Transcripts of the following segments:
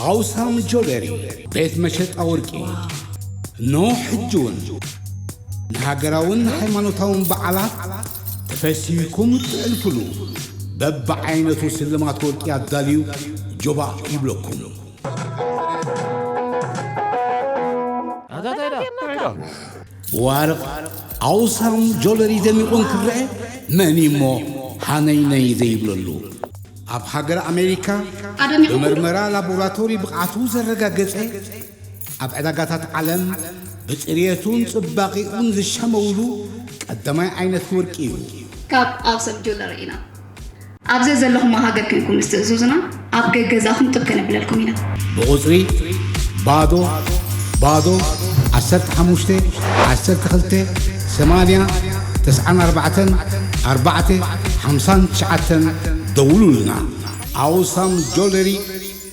ኣውሳን ጆበሪ ቤት መሸጣ ወርቂ እኖ ሕጅውን ንሃገራውን ሃይማኖታውን በዓላት ተፈሲኩም ትዕልፍሉ በብዓይነቱ ስልማት ወርቂ ኣዳልዩ ጆባ ይብለኩም ኣታ ታይዳ ብዋርቕ ዓውሳን ጆለሪ ደሚቑ እንክረኣ መን እዩ እሞ ሃነይነይ ዘይብለሉ? ኣብ ሃገረ ኣሜሪካ ብመርመራ ላቦራቶሪ ብቕዓቱ ዘረጋገጸ፣ ኣብ ዕዳጋታት ዓለም ብጽርየቱን ጽባቒኡን ዝሻመውሉ ቀዳማይ ዓይነት ወርቂ እዩ። ካብ ዓውሳን ጆለሪ ኢና። ኣብ ዘዘለኹሞ ሃገር ኴንኩም ምስ ትእዙዙና፣ ኣብ ገገዛኹም ጥብ ከነብለልኩም ኢና። ብቑጽሪ፣ ባዶ፣ ባዶ፣ ዓሰርተ ሓሙሽተ፣ ዓሰርተ ክልተ፣ ሰማንያ፣ ተስዓን ኣርባዕተን፣ ኣርባዕተ፣ ሓምሳን ትሽዓተን ደውሉልና። Awesome Jewelry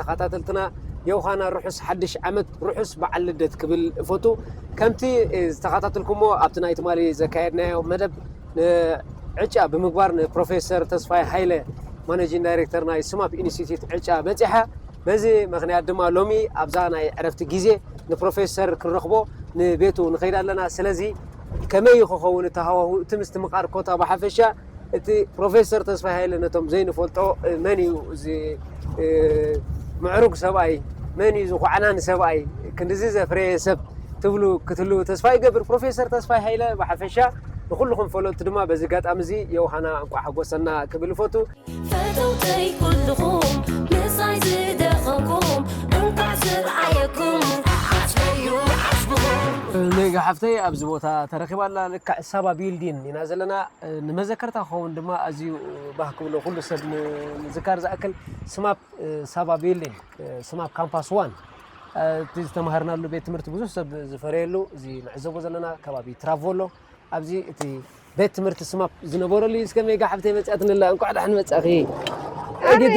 ተኻታተልትና የውሃና ርሑስ ሓድሽ ዓመት ርሑስ በዓል ልደት ክብል እፈቱ ከምቲ ዝተኻታተልኩሞ ኣብቲ ናይ ትማሊ ዘካየድናዮ መደብ ዕጫ ብምግባር ንፕሮፌሰር ተስፋይ ሃይለ ማነጂን ዳይሬክተር ናይ ስማፕ ኢንስቲትዩት ዕጫ በፂሓ በዚ ምክንያት ድማ ሎሚ ኣብዛ ናይ ዕረፍቲ ግዜ ንፕሮፌሰር ክንረኽቦ ንቤቱ ንኸይድ ኣለና ስለዚ ከመይ ክኸውን እቲ ሃዋሁ እቲ ምስትምቓር ኮታ ብሓፈሻ እቲ ፕሮፌሰር ተስፋይ ሃይለ ነቶም ዘይንፈልጦ መን እዩ እዚ ምዕሩግ ሰብኣይ መን እዩ ዝኳዕናን ሰብኣይ ክንዲዚ ዘፍረየ ሰብ ትብሉ ክትልው ተስፋ ይገብር ፕሮፌሰር ተስፋይ ሃይለ ብሓፈሻ ንኩልኹም ፈለጥቲ ድማ በዚ ኣጋጣሚ እዚ የውሃና እንቋ ሓጎሰና ክብል ይፈቱ ፈተውተይ ኩልኹም ምሳይ ዝደኸምኩም እንቋዕ ዝርኣየኩም ዓስበዩ ዓስብኹም ሜጋ ሓፍተይ ኣብዚ ቦታ ተረኪባ ኣላ ልክዕ ሳባ ቢልዲን ኢና ዘለና ንመዘከርታ ክኸውን ድማ ኣዝዩ ባህ ክብሎ ኩሉ ሰብ ንምዝካር ዝኣክል ስማፕ ሳባ ቢልዲንግ ስማፕ ካምፓስ ዋን እቲ ዝተማሃርናሉ ቤት ትምህርቲ ብዙሕ ሰብ ዝፈረየሉ እዚ ንዕዘቦ ዘለና ከባቢ ትራቮሎ ኣብዚ እቲ ቤት ትምህርቲ ስማፕ ዝነበረሉ እዩ እስከ ሜጋ ሓፍተይ መፅኣ ትንላ እንኳዕ ዳሕን መፃኺ እግድ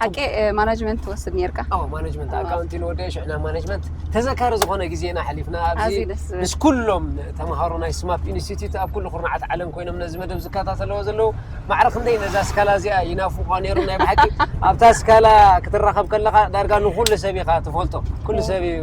ሓቂ ማናጅመንት ትወስድ ነርካ ማናጅመንት ኣካውንቲ ንወደ ሽዕና ማናጅመንት ተዘካሪ ዝኾነ ግዜና ሓሊፍና ኣብዚ ምስ ኩሎም ተምሃሮ ናይ ስማፕ ኢንስቲትዩት ኣብ ኩሉ ኩርናዓት ዓለም ኮይኖም ነዚ መደብ ዝከታተለዎ ዘለዉ ማዕረ ክንደይ ነዛ ስካላ እዚኣ ይናፍቋ ነይሩ ናይ ብሓቂ ኣብታ ስካላ ክትራኸብ ከለኻ ዳርጋ ንኩሉ ሰብ ኢኻ ትፈልጦ ኩሉ ሰብ እዩ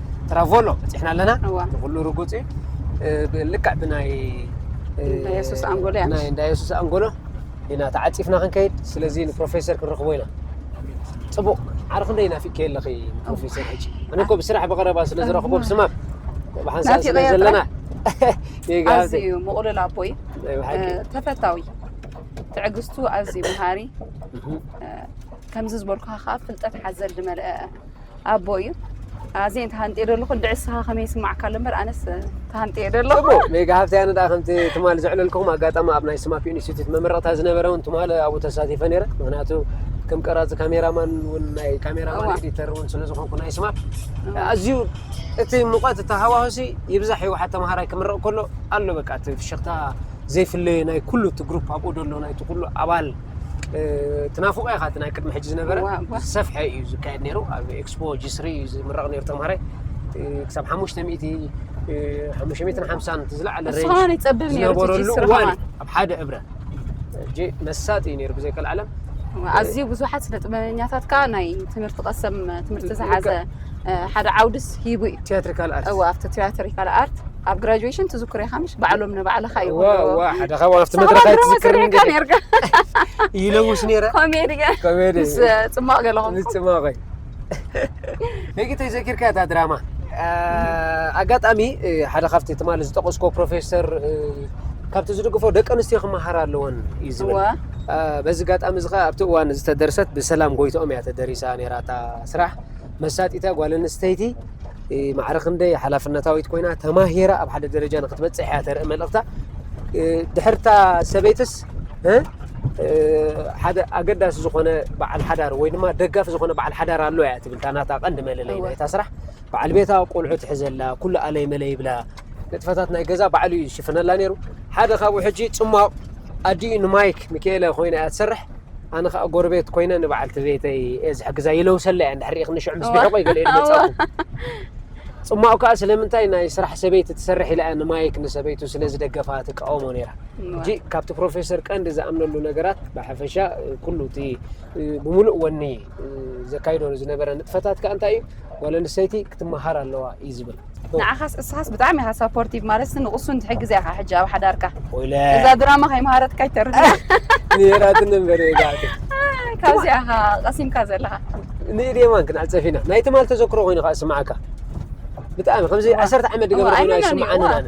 ትራቮሎ በፂሕና ኣለና ንኩሉ ርጉፅ እዩ ልክዕ ብናይ የሱስ ኣንጎሎ ናይ እንዳ የሱስ ኣንጎሎ ኢና ተዓፂፍና ክንከይድ ስለዚ ንፕሮፌሰር ክንረኽቦ ኢና ፅቡቕ ዓርኺ እንደ ናፊቅ ከየለኺ ንፕሮፌሰር ሕጂ ኣነ እኮ ብስራሕ ብቐረባ ስለ ዝረኽቦ ብስማም ብሓንሳእ ስለ ዘለና ኣዝዩ ምቑሉል ኣቦይ ተፈታዊ ትዕግስቱ ኣዝዩ መሃሪ ከምዚ ዝበልኩኻ ከዓ ፍልጠት ሓዘል ዝመልአ ኣቦ እዩ ኣዜ ተሃንጤ ደለኹ እንድዒ ንስኻ ከመይ ይስማዕካ ኣሎ እምበር ኣነስ ተሃንጤ እየ ደለኹ ጽቡቕ ሜጋ ሃብቲ ኣነ ደኣ ከምቲ ትማል ዘዕለልኩም ኣጋጣሚ ኣብ ናይ ስማፒ ኢንስቲትዩት መመረቕታ ዝነበረ እውን ትማል ኣብኡ ተሳቲፈ ነይረ ምክንያቱ ከም ቀራፂ ካሜራማን እውን ናይ ካሜራማን ኤዲተር እውን ስለ ዝኾንኩ ናይ ስማ ኣዝዩ እቲ ሙቐት እቲ ሃዋህሲ ይብዛሕ እዩ ሓ ተምሃራይ ክምረቕ ከሎ ኣሎ በቃ እቲ ፍሽኽታ ዘይፍለየ ናይ ኩሉ እቲ ግሩፕ ኣብኡ ደሎ ናይቲ ኩሉ ኣባል ትናፍቆ ኢኻ እቲ ናይ ቅድሚ ሕጂ ዝነበረ ዝሰፍሐ እዩ ዝካየድ ነይሩ ኣብ ኤክስፖ ጂስሪ እዩ ዝምረቕ ነይሩ ተምሃራይ ክሳብ ሓሙሽተ ሚእቲ ሓሙሽተ ሚእትን ሓምሳን እቲ ዝለዓለ ሬንጅ ይፀብብ ነይሩ ዝነበረሉ እዋን ኣብ ሓደ እብረ ሕጂ መሳጢ እዩ ነይሩ ብዘይከል ዓለም ኣዝዩ ብዙሓት ስነ ጥበበኛታት ከዓ ናይ ትምህርቲ ቀሰም ትምህርቲ ዝሓዘ ሓደ ዓውድስ ሂቡ እዩ ቲያትሪካል ኣርት እወ ኣብቲ ቲያትሪካል ኣርት ኣብ ግራጁዌሽን ትዝክሮ ኢኻ ምሽ ባዕሎም ንባዕልኻ እዩ ዋ ሓደ ካብኡ ኣብቲ መድረኽ ኣይትዝክርን ኔርካ ኔርካ ይለውስ ኔረ ኮሜዲ ኮሜዲ ምስ ጽማቕ ገለኹም ምስ ጽማቐይ ነጊተይ ዘኪርካ እታ ድራማ ኣጋጣሚ ሓደ ካብቲ ትማሊ ዝጠቐስኮ ፕሮፌሰር ካብቲ ዝድግፎ ደቂ ኣንስትዮ ክመሃር ኣለወን እዩ ዝብል በዚ ኣጋጣሚ እዚ ከዓ ኣብቲ እዋን ዝተደርሰት ብሰላም ጎይትኦም እያ ተደሪሳ ነይራ እታ ስራሕ መሳጢታ ጓል ኣንስተይቲ ማዕረ ክንደይ ሓላፍነታዊት ኮይና ተማሂራ ኣብ ሓደ ደረጃ ንክትበፅሕ እያ ተርኢ መልእኽታ ድሕርታ ሰበይትስ ሓደ ኣገዳሲ ዝኾነ በዓል ሓዳር ወይ ድማ ደጋፊ ዝኾነ በዓል ሓዳር ኣሎ እያ ትብል እታ ናታ ቀንዲ መለለይ ናይታ ስራሕ በዓል ቤታ ቆልዑ ትሕዘላ ኩሉ ኣለይ መለ ይብላ ንጥፈታት ናይ ገዛ ባዕሉ እዩ ዝሽፍነላ ነይሩ ሓደ ካብኡ ሕጂ ፅሟቕ ኣዲኡ ንማይክ ሚካኤለ ኮይና እያ ትሰርሕ ኣነ ከዓ ጎረቤት ኮይነ ንበዓልቲ ቤተይ እየ ዝሕግዛ ይለውሰላ እያ እንድሕር ሪኢኽኒ ሽዑ ምስ ብሕቆይ ገለ ኢሉ መፃኹ ፅማቑ ከዓ ስለምንታይ ናይ ስራሕ ሰበይቲ ትሰርሕ ኢላ እያ ንማይክ ንሰበይቱ ስለ ዝደገፋ ትቃወሞ ነይራ ሕጂ ካብቲ ፕሮፌሰር ቀንዲ ዝኣምነሉ ነገራት ብሓፈሻ ኩሉ እቲ ብምሉእ ወኒ ዘካይዶ ዝነበረ ንጥፈታት ከዓ እንታይ እዩ ጓል ኣንስተይቲ ክትመሃር ኣለዋ እዩ ዝብል ንዓኻስ እስኻስ ብጣዕሚ ኢኻ ሳፖርቲቭ ማለትስ ንቕሱን ትሕግዝ ኢኻ ሕጂ ኣብ ሓዳርካ እዛ ድራማ ከይመሃረትካ ይተርፍና ነራትን ነበር ካብዚ ኢኻ ቀሲምካ ዘለኻ ንኢዴማን ክንኣል ፀፊና ናይ ትማል ተዘክሮ ኮይኑ ከዓ ስማዓካ ብጣዕሚ ከምዚ ዓሰርተ ዓመት ድገብረ ኮይኑ ኣይስምዓንን ኣነ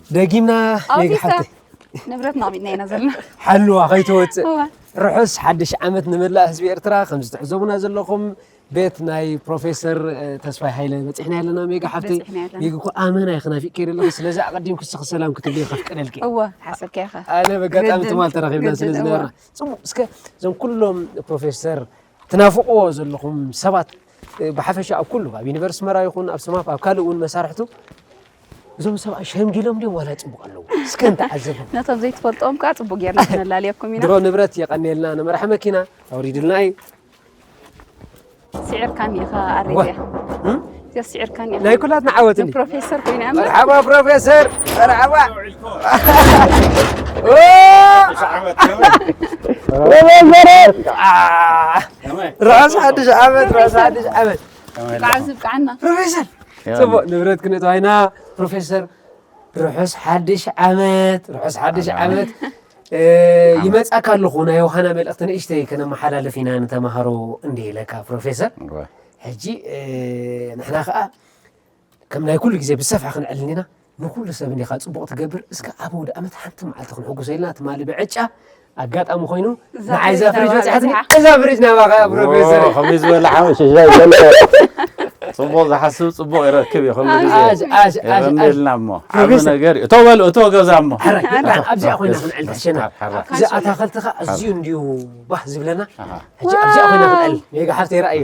ደጊምና ሜጋ ሓፍተይ ንብረትና ኣሚንና ኢና ዘለና ሓልዋ ከይትወፅእ ርሑስ ሓድሽ ዓመት ንመላእ ህዝቢ ኤርትራ ከምዚ ትዕዘቡና ዘለኹም ቤት ናይ ፕሮፌሰር ተስፋይ ሃይለ በፂሕና ኣለና ሜጋ ሓፍተይ ሜጋ እኮ ኣመና ኢኺ ናፊቅ ከይደ ኣለኹ ስለዚ ኣቐዲምኩ ስኺ ሰላም ክትብልይ ከፍቀደልኪ እወ ሓሰብከ ኢኻ ኣነ በጋጣሚ ትማል ተራኺብና ስለ ዝነበርና ፅቡቅ እስከ እዞም ኩሎም ፕሮፌሰር ትናፍቕዎ ዘለኹም ሰባት ብሓፈሻ ኣብ ኩሉ ኣብ ዩኒቨርስ ኣስመራ ይኹን ኣብ ሰማፍ ኣብ ካልእ እውን መሳርሕቱ እዞም ሰብኣይ ሸምጊሎም ድዮም ዋላ ይፅቡቅ ኣለዉ እስከ ንተዓዘቡ ነቶም ዘይትፈልጦም ከዓ ፅቡቅ ጌርና ክነላልየኩም ኢና ድሮ ንብረት የቀኒየልና ንመራሒ መኪና ኣውሪድልና እዩ ስዒርካኒ ኢኻ ኣሬድያ እዚኣ ስዒርካኒ ናይ ኩላትና ዓወት እዩ ፕሮፌሰር ኮይና መርሓባ ፕሮፌሰር መርሓባ ፕሮፌሰር ራስ ሓድሽ ዓመት ራስ ሓድሽ ዓመት ብቃዓዝብቃዓና ፕሮፌሰር ፅቡቅ ንብረት ክነጥዋይና ፕሮፌሰር ርሑስ ሓድሽ ዓመት ርሑስ ሓድሽ ዓመት ይመፃካ ኣለኹ ናይ ውሃና መልእክቲ ንእሽተይ ከነመሓላልፍ ኢና ንተምሃሮ እንዲ ኢለካ ፕሮፌሰር ሕጂ ንሕና ከዓ ከም ናይ ኩሉ ግዜ ብሰፍሐ ክንዕል እንዲና ንኩሉ ሰብ እንዲካ ጽቡቅ ትገብር እስከ ኣብ ኣውድኣመት ሓንቲ መዓልቲ ክንሕጉሶ ኢልና ትማሊ ብዕጫ ኣጋጣሚ ኮይኑ ንዓይ እዛ ፍሪጅ በጽሓትኒ እዛ ፍሪጅ ናባካ እያ ፕሮፌሰር ከመይ ዝበለ ሓወ ሽሻይ ዘለ ጽቡቅ ዝሓስብ ጽቡቅ ይረክብ እዩ ከምዚ ግዜ ኣጅ ኣጅ ኣጅ ኣጅ የቀኒልና እሞ ዓብ ፕሮፌሰር። ነገር እዩ እቶ በል እቶ ገዛ እሞ ሕራይ ሕራይ ኣብዚኣ ኮይና ክንዕል ትሕሸና ሕራይ እዚ ኣታክልቲ ከ ኣዝዩ እንድዩ ባህ ዝብለና ሕጂ ኣብዚኣ ኮይና ክንዕል ሜጋ ሓፍተይ ረኣዮ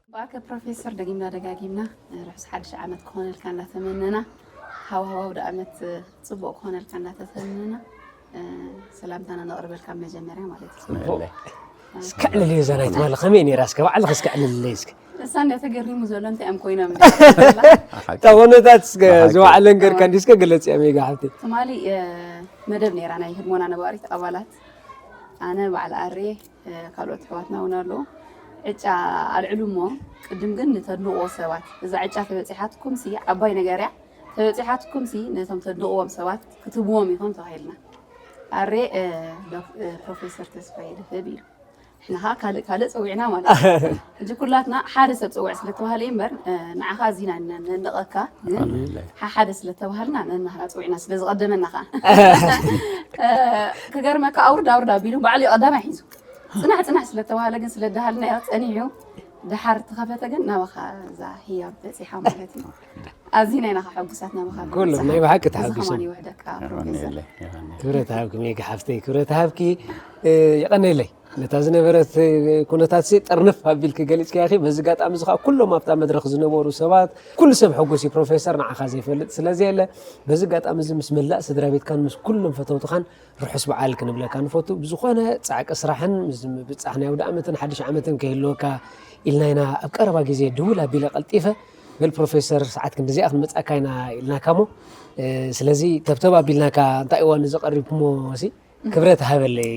ብኣከ ፕሮፌሰር ደጊምና ደጋጊምና ርሑስ ሓድሽ ዓመት ክኾነልካ እናተመነና ሃዋህው ኣውደ ኣመት ጽቡቕ ክኾነልካ እናተተመነና ሰላምታና ነቕርበልካ መጀመርያ ማለት እዩ ጽቡቕ እስከ ዕልል እየ ዘራይ ትባለ ከመይ ነይራ እስከ ባዕልኽ እስከ ዕልልለይ እስከ እሳ እንዳ ተገሪሙ ዘሎ እንታይ እዮም ኮይኖም እታ ኮነታት እስከ ዝባዕለን ገርካ እንዲ እስከ ገለጽ እያ ሜጋ ሓብቲ ትማሊ መደብ ነይራ ናይ ህድሞና ነባሪት ኣባላት ኣነ ባዕል ኣርየ ካልኦት ኣሕዋትና እውን ኣለዉ ዕጫ ኣልዕሉ እሞ ቅድም ግን ንተድንቕዎ ሰባት እዛ ዕጫ ተበፂሓትኩም ሲ ዓባይ ነገር እያ ተበፂሓትኩም ሲ ነቶም ተድንቕዎም ሰባት ክትብዎም ኢኹም ተባሂልና ኣሬ ፕሮፌሰር ተስፋዬ ድፍብ ኢሉ ንሕና ከዓ ካልእ ካልእ ፀዊዕና ማለት እዩ ሕጂ ኩላትና ሓደ ሰብ ጽውዕ ስለ ተባህለ እዩ እምበር ንዓኻ እዚ ኢና ነድንቐካ ግን ሓሓደ ስለ ተባህልና ነናህና ጽዊዕና ስለ ዝቐደመና ከኣ ክገርመካ ኣውርድ ኣውርድ ኣቢሉ ባዕሉ እዩ ቀዳማይ ሒዙ ጽናሕ ጽናሕ ስለ ተባህለ ግን ስለ ደሃልናዮ ጸኒዑ ድሓር ተኸፈተ ግን ናባኻ እዛ ህያብ በፂሓ ማለት እዩ ኣዚ ናይ ናኻ ሕጉሳት ናባኻ ኩሉ ናይ ብሓቂ ተሓጒሶም ይውሕደካ ክብረት ሃብኪ ሜጋ ሓፍተይ ክብረት ሃብኪ የቐነለይ ነታ ዝነበረት ኩነታትሲ ጥርንፍ ኣቢልኪ ገሊጽክያ ኢኺ። በዚ ኣጋጣሚ እዚ ከኣ ኩሎም ኣብታ መድረኽ ዝነበሩ ሰባት ኩሉ ሰብ ሕጉስ እዩ። ፕሮፌሰር ንዓኻ ዘይፈልጥ ስለ ዘየለ በዚ ኣጋጣሚ እዚ ምስ መላእ ስድራ ቤትካን ምስ ኩሎም ፈተውትኻን ርሑስ በዓል ክንብለካ ንፈቱ። ብዝኾነ ጻዕቂ ስራሕን ምስ ምብጻሕ ናይ ኣውደኣመትን ሓድሽ ዓመትን ከይህልወካ ኢልና ኢና ኣብ ቀረባ ግዜ ድውል ኣቢለ ቀልጢፈ በል ፕሮፌሰር ሰዓት ክንዲዚኣ ክንመጽኣካ ኢና ኢልናካሞ ስለዚ ተብተብ ኣቢልናካ እንታይ እዋን እዚ ቀሪብኩሞሲ ክብረት ሃበለይ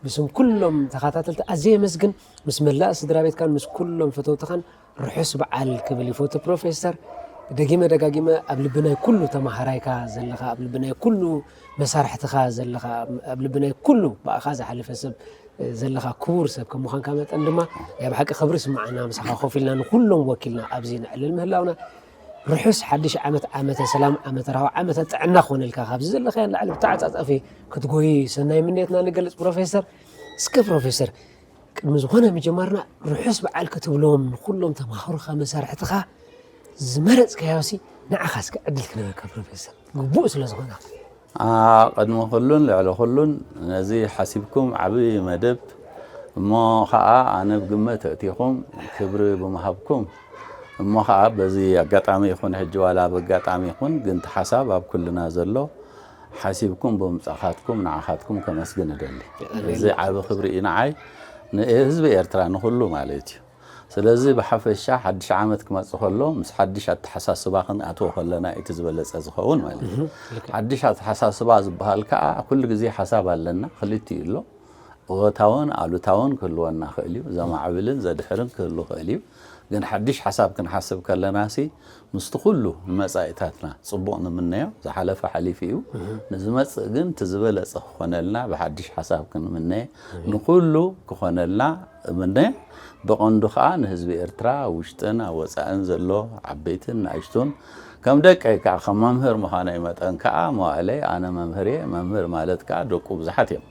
ብስም ኩሎም ተኸታተልቲ ኣዝየ የመስግን ምስ መላእ ስድራ ቤትካን ምስ ኩሎም ፈተውትኻን ርሑስ በዓል ክብል ይፈቱ ፕሮፌሰር ደጊመ ደጋጊመ ኣብ ልቢ ናይ ኩሉ ተማሃራይካ ዘለኻ ኣብ ልቢ ናይ ኩሉ መሳርሕትኻ ዘለኻ ኣብ ልቢ ናይ ኩሉ ብኣኻ ዝሓለፈ ሰብ ዘለኻ ክቡር ሰብ ከም ምዃንካ መጠን ድማ ናይ ብሓቂ ክብሪ ስምዓና ምሳኻ ኮፍ ኢልና ንኩሎም ወኪልና ኣብዚ ነዕልል ምህላውና ርሑስ ሓድሽ ዓመት ዓመተ ሰላም ዓመተ ራህዋ ዓመተ ጥዕና ክኾነልካ ካብዚ ዘለኻዮ ንላዕሊ ብተዓፃፃፊ ክትጎይ ሰናይ ምንየትና ንገልፅ ፕሮፌሰር እስከ ፕሮፌሰር ቅድሚ ዝኾነ ምጀማርና ርሑስ በዓል ክትብሎም ንኩሎም ተማሃሮኻ መሳርሕትኻ ዝመረፅካዮሲ ንዓኻ እስከ ዕድል ክነበካ ፕሮፌሰር ግቡእ ስለ ዝኾነ ቅድሚ ኩሉን ልዕሊ ኩሉን ነዚ ሓሲብኩም ዓቢ መደብ እሞ ከኣ ኣነ ብግመት ኣእቲኹም ክብሪ ብምሃብኩም እሞ ከኣ በዚ ኣጋጣሚ ይኹን ሕጂ ዋላ በጋጣሚ ይኹን ግን እቲ ሓሳብ ኣብ ኩልና ዘሎ ሓሲብኩም ብምምጻኻትኩም ንዓኻትኩም ከመስግን እደሊ። እዚ ዓቢ ክብሪ እዩ ንዓይ ንህዝቢ ኤርትራ ንኹሉ ማለት እዩ። ስለዚ ብሓፈሻ ሓድሽ ዓመት ክመጽእ ከሎ ምስ ሓድሽ ኣተሓሳስባ ክንኣትዎ ከለና እዩ እቲ ዝበለጸ ዝኸውን ማለት እዩ። ሓድሽ ኣተሓሳስባ ዝበሃል ከኣ ኩሉ ግዜ ሓሳብ ኣለና፣ ክልቲኡ ኣሎ። እወታውን ኣሉታውን ክህልወና ይኽእል እዩ፣ ዘማዕብልን ዘድሕርን ክህሉ ይኽእል እዩ። ግን ሓድሽ ሓሳብ ክንሓስብ ከለናሲ ምስቲ ኩሉ ንመጻኢታትና ጽቡቕ ንምነዮ፣ ዝሓለፈ ሓሊፉ እዩ፣ ንዝመጽእ ግን እቲ ዝበለጸ ክኾነልና ብሓድሽ ሓሳብ ክንምነ ንኹሉ ክኾነልና እምነ፣ ብቐንዱ ከኣ ንህዝቢ ኤርትራ ኣብ ውሽጥን ኣብ ወጻእን ዘሎ ዓበይትን ንኣሽቱን ከም ደቀይ ከኣ ከም መምህር ምዃነይ መጠን ከኣ መዋእለይ ኣነ መምህር እየ፣ መምህር ማለት ከኣ ደቁ ብዙሓት እዮም፣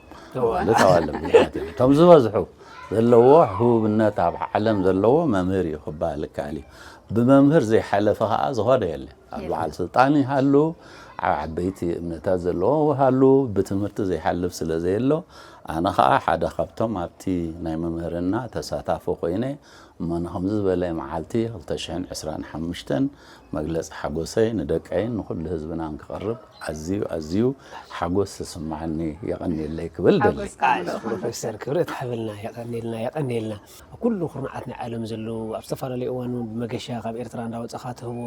ኣዋልድ ኣዋልድ ብዙሓት እዮም፣ እቶም ዝበዝሑ ዘለዎ ህቡብነት ኣብ ዓለም ዘለዎ መምህር እዩ ክበሃል ይከኣል እዩ። ብመምህር ዘይሓለፈ ከኣ ዝኾነ የለን። ኣብ በዓል ስልጣን ይሃሉ፣ ኣብ ዓበይቲ እምነታት ዘለዎ ይሃሉ፣ ብትምህርቲ ዘይሓልፍ ስለ ዘየሎ፣ ኣነ ኸኣ ሓደ ካብቶም ኣብቲ ናይ ምምህርና ተሳታፊ ኮይነ እሞ ንኸምዚ ዝበለ መዓልቲ ክልተ ሽሕን ዕስራን ሓሙሽተን መግለጺ ሓጎሰይ ንደቀይን ንኹሉ ህዝብናን ክቕርብ ኣዝዩ ኣዝዩ ሓጎስ ዝስምዓኒ የቐንየለይ ክብል ደሊ። ሓጎስካ ፕሮፌሰር ክብረት ሓበልና የቀንየልና የቀንየልና ኣብ ኩሉ ኩርናዓት ናይ ዓለም ዘለዉ ኣብ ዝተፈላለዩ እዋን ውን ብመገሻ ካብ ኤርትራ እንዳወጻኻ ትህቦ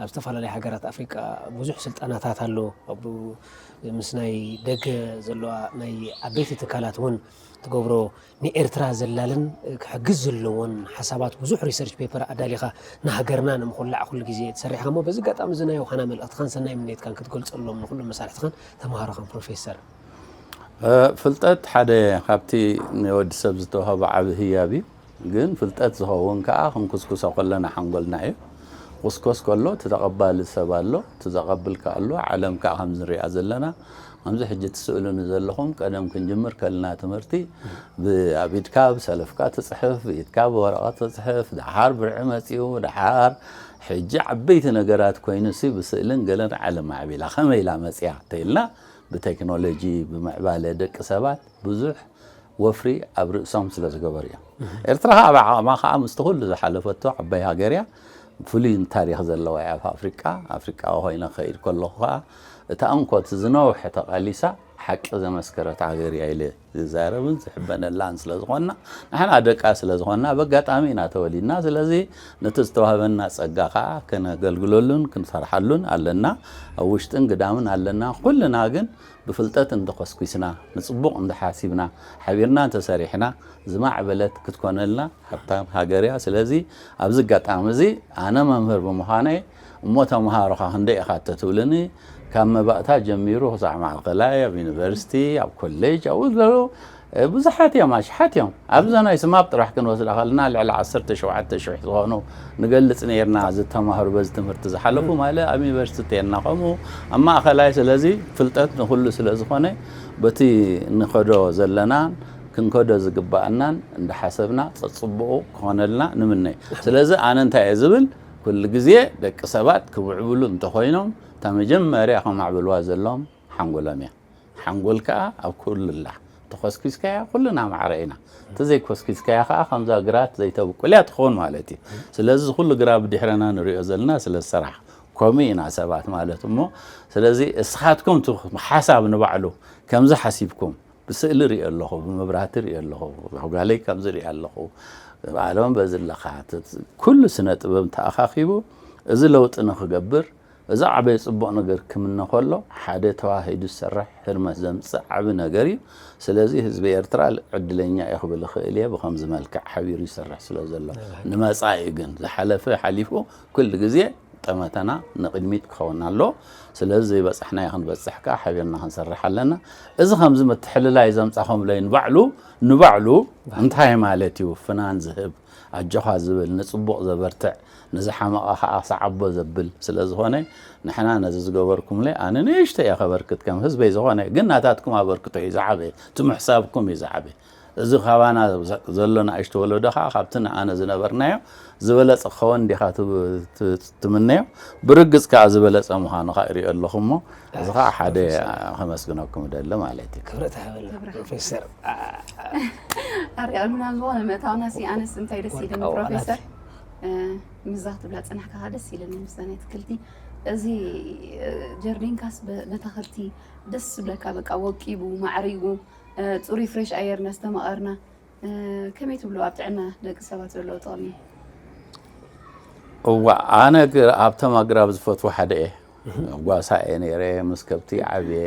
ኣብ ዝተፈላለያ ሃገራት ኣፍሪቃ ብዙሕ ስልጠናታት ኣሎ። ኣብ ምስ ናይ ደገ ዘለዋ ናይ ዓበይቲ ትካላት እውን ትገብሮ ንኤርትራ ዘላልን ክሕግዝ ዘለዎን ሓሳባት ብዙሕ ሪሰርች ፔፐር ኣዳሊኻ ንሃገርና ንምኹላዕ ኩሉ ግዜ ትሰርሕኻ እሞ በዚ ኣጋጣሚ እዚ ናይ ዮሃና መልእኽትኻን ሰናይ ምንየትካን ክትገልጸሎም ንኹሎም መሳርሕትኻን ተምሃሮኻን ፕሮፌሰር ፍልጠት ሓደ ካብቲ ንወዲ ሰብ ዝተዋህቦ ዓቢ ህያብ እዩ። ግን ፍልጠት ዝኸውን ከኣ ክንኩስኩሶ ከለና ሓንጎልና እዩ። ክኹስኮስ ከሎ እቲ ተቐባሊ ሰብ ኣሎ፣ እቲ ዘቐብል ከኣ ኣሎ፣ ዓለም ከኣ ከምዚ ንሪኣ ዘለና ከምዚ ሕጂ ትስእሉኒ ዘለኹም ቀደም ክንጅምር ከለና ትምህርቲ ብ ኣብ ኢድካ ብ ሰለፍካ ትጽሕፍ ብ ኢድካ ብ ወረቐት ትጽሕፍ ደሓር ብርዒ መጺኡ ደሓር ሕጂ ዓበይቲ ነገራት ኮይኑሲ ብስእልን ገለን ዓለም ማዕቢላ ከመይ ኢላ መጺኣ ተይልና ብቴክኖሎጂ ብምዕባለ ደቂ ሰባት ብዙሕ ወፍሪ ኣብ ርእሶም ስለ ዝገበሩ እዮም። ኤርትራ ከኣ ብዓቕማ ከኣ ምስቲ ኩሉ ዝሓለፈቶ ዓባይ ሃገር እያ። ፍሉይ ታሪኽ ዘለዋ እያ ኣብ ኣፍሪቃ። ኣፍሪቃዊ ኮይነ ክኸይድ ከለኹ ከኣ እታ እንኮ እቲ ዝነውሐ ተቓሊሳ ሓቂ ዘመስከረት ሃገር እያ ኢለ ዝዛረብን ዝሕበነላን ስለ ዝኾንና ንሕና ደቃ ስለ ዝኾንና በጋጣሚ ኢና ተወሊድና። ስለዚ ነቲ ዝተዋህበና ጸጋ ከኣ ከነገልግለሉን ክንሰርሓሉን ኣለና። ኣብ ውሽጥን ግዳምን ኣለና። ኩልና ግን ብፍልጠት እንተኾስኲስና፣ ንጽቡቕ እንተሓሲብና፣ ሓቢርና እንተሰሪሕና ዝማዕበለት ክትኮነልና ሃብታም ሃገር እያ። ስለዚ ኣብዚ ኣጋጣሚ እዚ ኣነ መምህር ብምዃነይ እሞ ተመሃሮኻ ክንደይ ኢኻ እንተትብሉኒ ካብ መባእታ ጀሚሩ ክሳዕ ማእከላይ ኣብ ዩኒቨርሲቲ ኣብ ኮሌጅ ኣብኡ ዝበሉ ብዙሓት እዮም፣ ኣሽሓት እዮም። ኣብዛ ናይ ስማፕ ጥራሕ ክንወስዳ ከለና ልዕሊ ዓሰርተ ሸውዓተ ሽሕ ዝኾኑ ንገልጽ ኔርና፣ ዝተማህሩ በዚ ትምህርቲ ዝሓለፉ ማለ ኣብ ዩኒቨርሲቲ እተየና ከምኡ ኣብ ማእከላይ ስለዚ ፍልጠት ንኹሉ ስለ ዝኾነ በቲ ንኸዶ ዘለናን ክንከዶ ዝግብኣናን እንዳሓሰብና ጸጽቡቑ ክኾነልና ንምነ። ስለዚ ኣነ እንታይ እየ ዝብል ኩሉ ግዜ ደቂ ሰባት ክምዕብሉ እንተኾይኖም እታ መጀመርያ ከማዕብልዋ ዘለዎም ሓንጎሎም እያ። ሓንጎል ከኣ ኣብ ኩሉ ኣላ ተኾስኪስካያ ኩልና ማዕረ ኢና ተዘይ ኮስኪስካያ ከኣ ከምዛ ግራት ዘይተብቁልያ ትኾን ማለት እዩ ስለዚ እዚ ኩሉ ግራ ብድሕረና ንሪኦ ዘለና ስለ ሰራሕ ኮምኡ ኢና ሰባት ማለት እሞ ስለዚ እስኻትኩም እቲ ሓሳብ ንባዕሉ ከምዚ ሓሲብኩም ብስእሊ ሪኦ ኣለኹ ብመብራህቲ ሪኦ ኣለኹ ጓለይ ከምዚ ሪኣ ኣለኹ ብኣለም በዚ ኣለኻ ኩሉ ስነ ጥበብ ተኣኻኺቡ እዚ ለውጢ ንኽገብር እዚ ዓበየ ጽቡቕ ነገር ክምነ ከሎ ሓደ ተዋሂዱ ዝሰርሕ ህርመት ዘምጽእ ዓቢ ነገር እዩ። ስለዚ ህዝቢ ኤርትራ ዕድለኛ እዩ ክብል እኽእል እየ ብኸምዚ መልክዕ ሓቢሩ ይሰርሕ ስለ ዘሎ። ንመጻኢ ግን ዝሓለፈ ሓሊፉ ኩሉ ግዜ ጠመተና ንቕድሚት ክኸውን ኣለዎ። ስለዚ ዘይበጻሕናዮ ክንበጽሕ ከኣ ሓቢርና ክንሰርሕ ኣለና። እዚ ከምዚ ምትሕልላይ ዘምጻኹምለይ ንባዕሉ ንባዕሉ እንታይ ማለት እዩ ፍናን ዝህብ? ኣጆኻ ዝብል፣ ንጽቡቕ ዘበርትዕ፣ ንዝሓመቐ ከኣ ሰዓቦ ዘብል ስለ ዝኾነ፣ ንሕና ነዚ ዝገበርኩምለይ ኣነ ንእሽተይ እየ ከበርክት ከም ህዝበይ ዝኾነ ግን ናታትኩም ኣበርክቶ እዩ ዝዓበየ፣ እቲ ምሕሳብኩም እዩ ዝዓበየ። እዚ ካባና ዘሎ ንእሽቶ ወለዶ ከኣ ካብቲ ንኣነ ዝነበርናዮ ዝበለጸ ክኸወን ዲኻ ትምነዮ? ብርግጽ ከኣ ዝበለጸ ምዃኑ ከኣ ይሪኦ ኣለኹ እሞ፣ እዚ ከዓ ሓደ ከመስግነኩም እደሊ ማለት እዩ ክብረት ሃበና ፕሮፌሰር ኣርኣዩና ዝኾነ ምእታውና ሲ ኣነስ እንታይ ደስ ኢልኒ ፕሮፌሰር ምዛ ክትብላ ፅናሕካ ደስ ኢልኒ ምስ ናይ ትክልቲ እዚ ጀርዲንካስ በተክልቲ ደስ ዝብለካ በቃ ወቂቡ ማዕሪጉ ፅሩይ ፍሬሽ ኣየር እናስተማቐርና ከመይ ትብሉ ኣብ ጥዕና ደቂ ሰባት ዘለዎ ጥቕሚ? እዋእ ኣነ ኣብቶም ኣግራብ ዝፈትዎ ሓደ እየ ጓሳ እየ ነይረ ምስ ከብቲ ዓብየ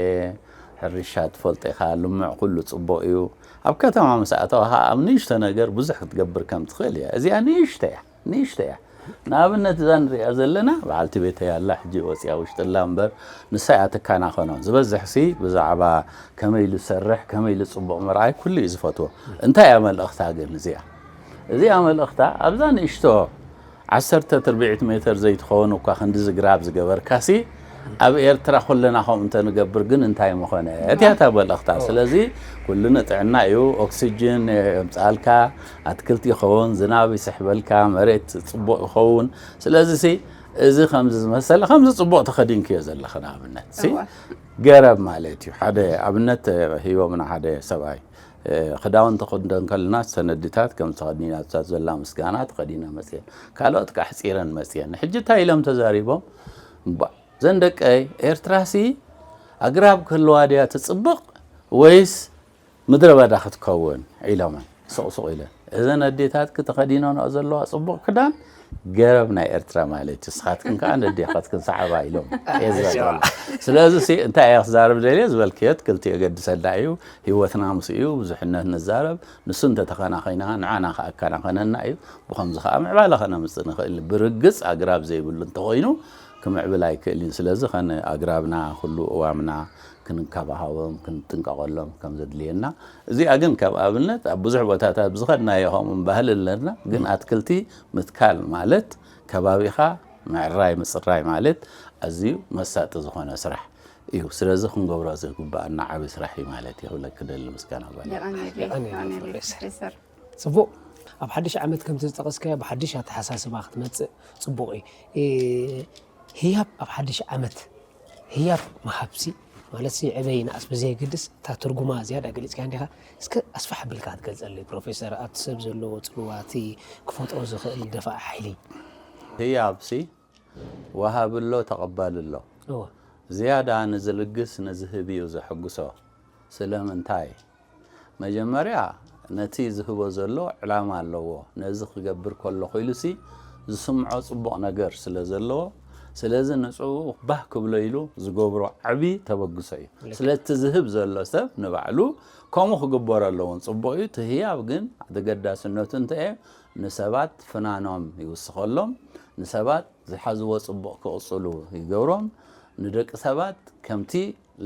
ሕርሻ ትፈልጦ ኢኻ ልምዕ ኩሉ ፅቡቕ እዩ ኣብ ከተማ ምስ ኣተዋኻ ኣብ ንእሽቶ ነገር ብዙሕ ክትገብር ከም ትኽእል እያ እዚኣ ንእሽቶ እያ ንእሽተይ እያ ንኣብነት እዛ ንርእያ ዘለና በዓልቲ ቤተይ ኣላ ሕጂ ወጽያ ውሽጢ ኣላ እምበር ንሳ እያ ትከናኸኖ ዝበዝሕሲ ብዛዕባ ከመይ ኢሉ ዝሰርሕ ከመይ ኢሉ ጽቡቕ ምርኣይ ኩሉ እዩ ዝፈትዎ እንታይ እያ መልእኽታ ግን እዚኣ እዚኣ መልእኽታ ኣብዛ ንእሽቶ ዓሰርተ ትርብዒት ሜተር ዘይትኸውን እኳ ክንድዚ ግራብ ዝገበርካሲ ኣብ ኤርትራ ኩልና ከምኡ እንተንገብር ግን እንታይ ምኾነ እቲያታ በለኽታ ስለዚ ኩሉ ንጥዕና እዩ ኦክሲጅን የምጽኣልካ ኣትክልቲ ይኸውን፣ ዝናብ ይስሕበልካ፣ መሬት ጽቡቕ ይኸውን። ስለዚሲ እዚ ከምዚ ዝመሰለ ከምዚ ጽቡቕ ተኸዲንክዮ ዘለኺ ንኣብነት ገረብ ማለት እዩ። ሓደ ኣብነት ሂቦምና ሓደ ሰብኣይ ክዳውንቲ ክንደን ከለና ሰነድታት ከም ተኸዲናታ ዘላ ምስጋና ተኸዲነ መፅየን ካልኦት ከዓ ሕፂረን መፅየን ሕጂ እንታይ ኢሎም ተዛሪቦም እባ ዘን ደቀይ ኤርትራሲ ኣግራብ ክህልዋ ድያ ትፅብቕ ወይስ ምድረ በዳ ክትከውን ኢሎመን ሱቕ ሱቕ ኢለን እዘን ኣዴታትኪ ተኸዲነንኦ ዘለዋ ጽቡቕ ክዳን ገረብ ናይ ኤርትራ ማለት እዩ ንስኻትክን ከዓ ነዴኻትክን ሰዓባ ኢሎም እየ ዝበልኩ ስለዚ ሲ እንታይ እየ ክዛረብ ደልየ ዝበልክዮ ትክልቲ እየ ገድሰና እዩ ህይወትና ምስ እዩ ብዙሕነት ንዛረብ ንሱ እንተተኸናኺና ንዓና ከዓ ከናኸነና እዩ ብኸምዚ ከዓ ምዕባለ ከነምፅእ ንኽእል ብርግፅ ኣግራብ ዘይብሉ እንተኾይኑ ክምዕብል ኣይክእልን ስለዚ ከነ ኣግራብና ኩሉ እዋምና ክንንካባሃቦም ክንጥንቀቐሎም ከም ዘድልየና እዚኣ ግን ከም ኣብነት ኣብ ብዙሕ ቦታታት ብዝኸድናዮ ከምኡ ባህሊ ኣለና ግን ኣትክልቲ ምትካል ማለት ከባቢኻ ምዕራይ ምፅራይ ማለት ኣዝዩ መሳጢ ዝኾነ ስራሕ እዩ ስለዚ ክንገብሮ ዝግባኣና ዓብይ ስራሕ እዩ ማለት እዩ ክብለኪ ደሊ ምስጋና ጓል ፅቡቅ ኣብ ሓድሽ ዓመት ከምቲ ዝጠቀስካዮ ብሓድሽ ኣተሓሳስባ ክትመፅእ ፅቡቅ እዩ። ህያብ ኣብ ሓድሽ ዓመት ህያብ ምሃብሲ ማለትሲ ዕበ ይንኣስ ብዘየገድስ እታ ትርጉማ ዝያዳ ገሊጽካያ እንዲኻ እስከ ኣስፋሕ ኣቢልካ ክትገልጸለይ ፕሮፌሰር ኣብቲ ሰብ ዘለዎ ጽልዋ እቲ ክፈጥሮ ዝኽእል ደፋኢ ሓይሊ ህያብሲ ወሃቢ ኣሎ ተቐባሊ ኣሎ እወ። ዝያዳ ንዝልግስ ንዝህብዩ ዘሐጉሶ ስለምንታይ? መጀመርያ ነቲ ዝህቦ ዘሎ ዕላማ ኣለዎ ነዚ ክገብር ከለኹ ኢሉሲ ዝስምዖ ጽቡቕ ነገር ስለ ዘለዎ ስለዚ ንጽኡ ባህ ክብሎ ኢሉ ዝገብሮ ዓቢ ተበግሶ እዩ ስለቲ ዝህብ ዘሎ ሰብ ንባዕሉ ከምኡ ክግበሮ ኣለዎን ጽቡቕ እዩ እቲ ህያብ ግን ተገዳስነቱ እንተየ ንሰባት ፍናኖም ይውስኸሎም ንሰባት ዝሓዝዎ ጽቡቕ ክቕጽሉ ይገብሮም ንደቂ ሰባት ከምቲ